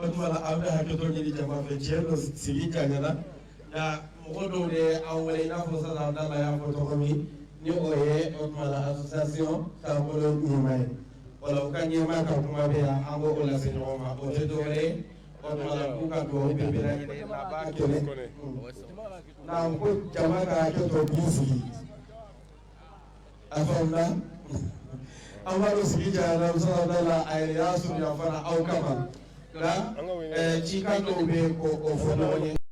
[SPEAKER 1] o tuma la an bɛ hakɛto ɲini jama fɛ tiɲɛ don sigi janyana nka mɔgɔ dɔw de ye an wele i n'a fɔ sisan an da la y'a fɔ cogo min ni o ye o tuma la association taabolo ɲɛmaa ye wala u ka ɲɛmaa ka kuma bɛ yan an b'o lase ɲɔgɔn ma o tɛ dɔ wɛrɛ ye o tuma la k'u ka dugawu bɛɛ bɛ lajɛlen na a b'a kɛnɛ na ko jama ka hakɛto b'u sigi a faamuya an b'a dɔn sigi janyana musola da la a yɛrɛ y'a surunya fana aw kama nka cikan dɔw bɛ yen ko o fɔ ɲɔgɔn ye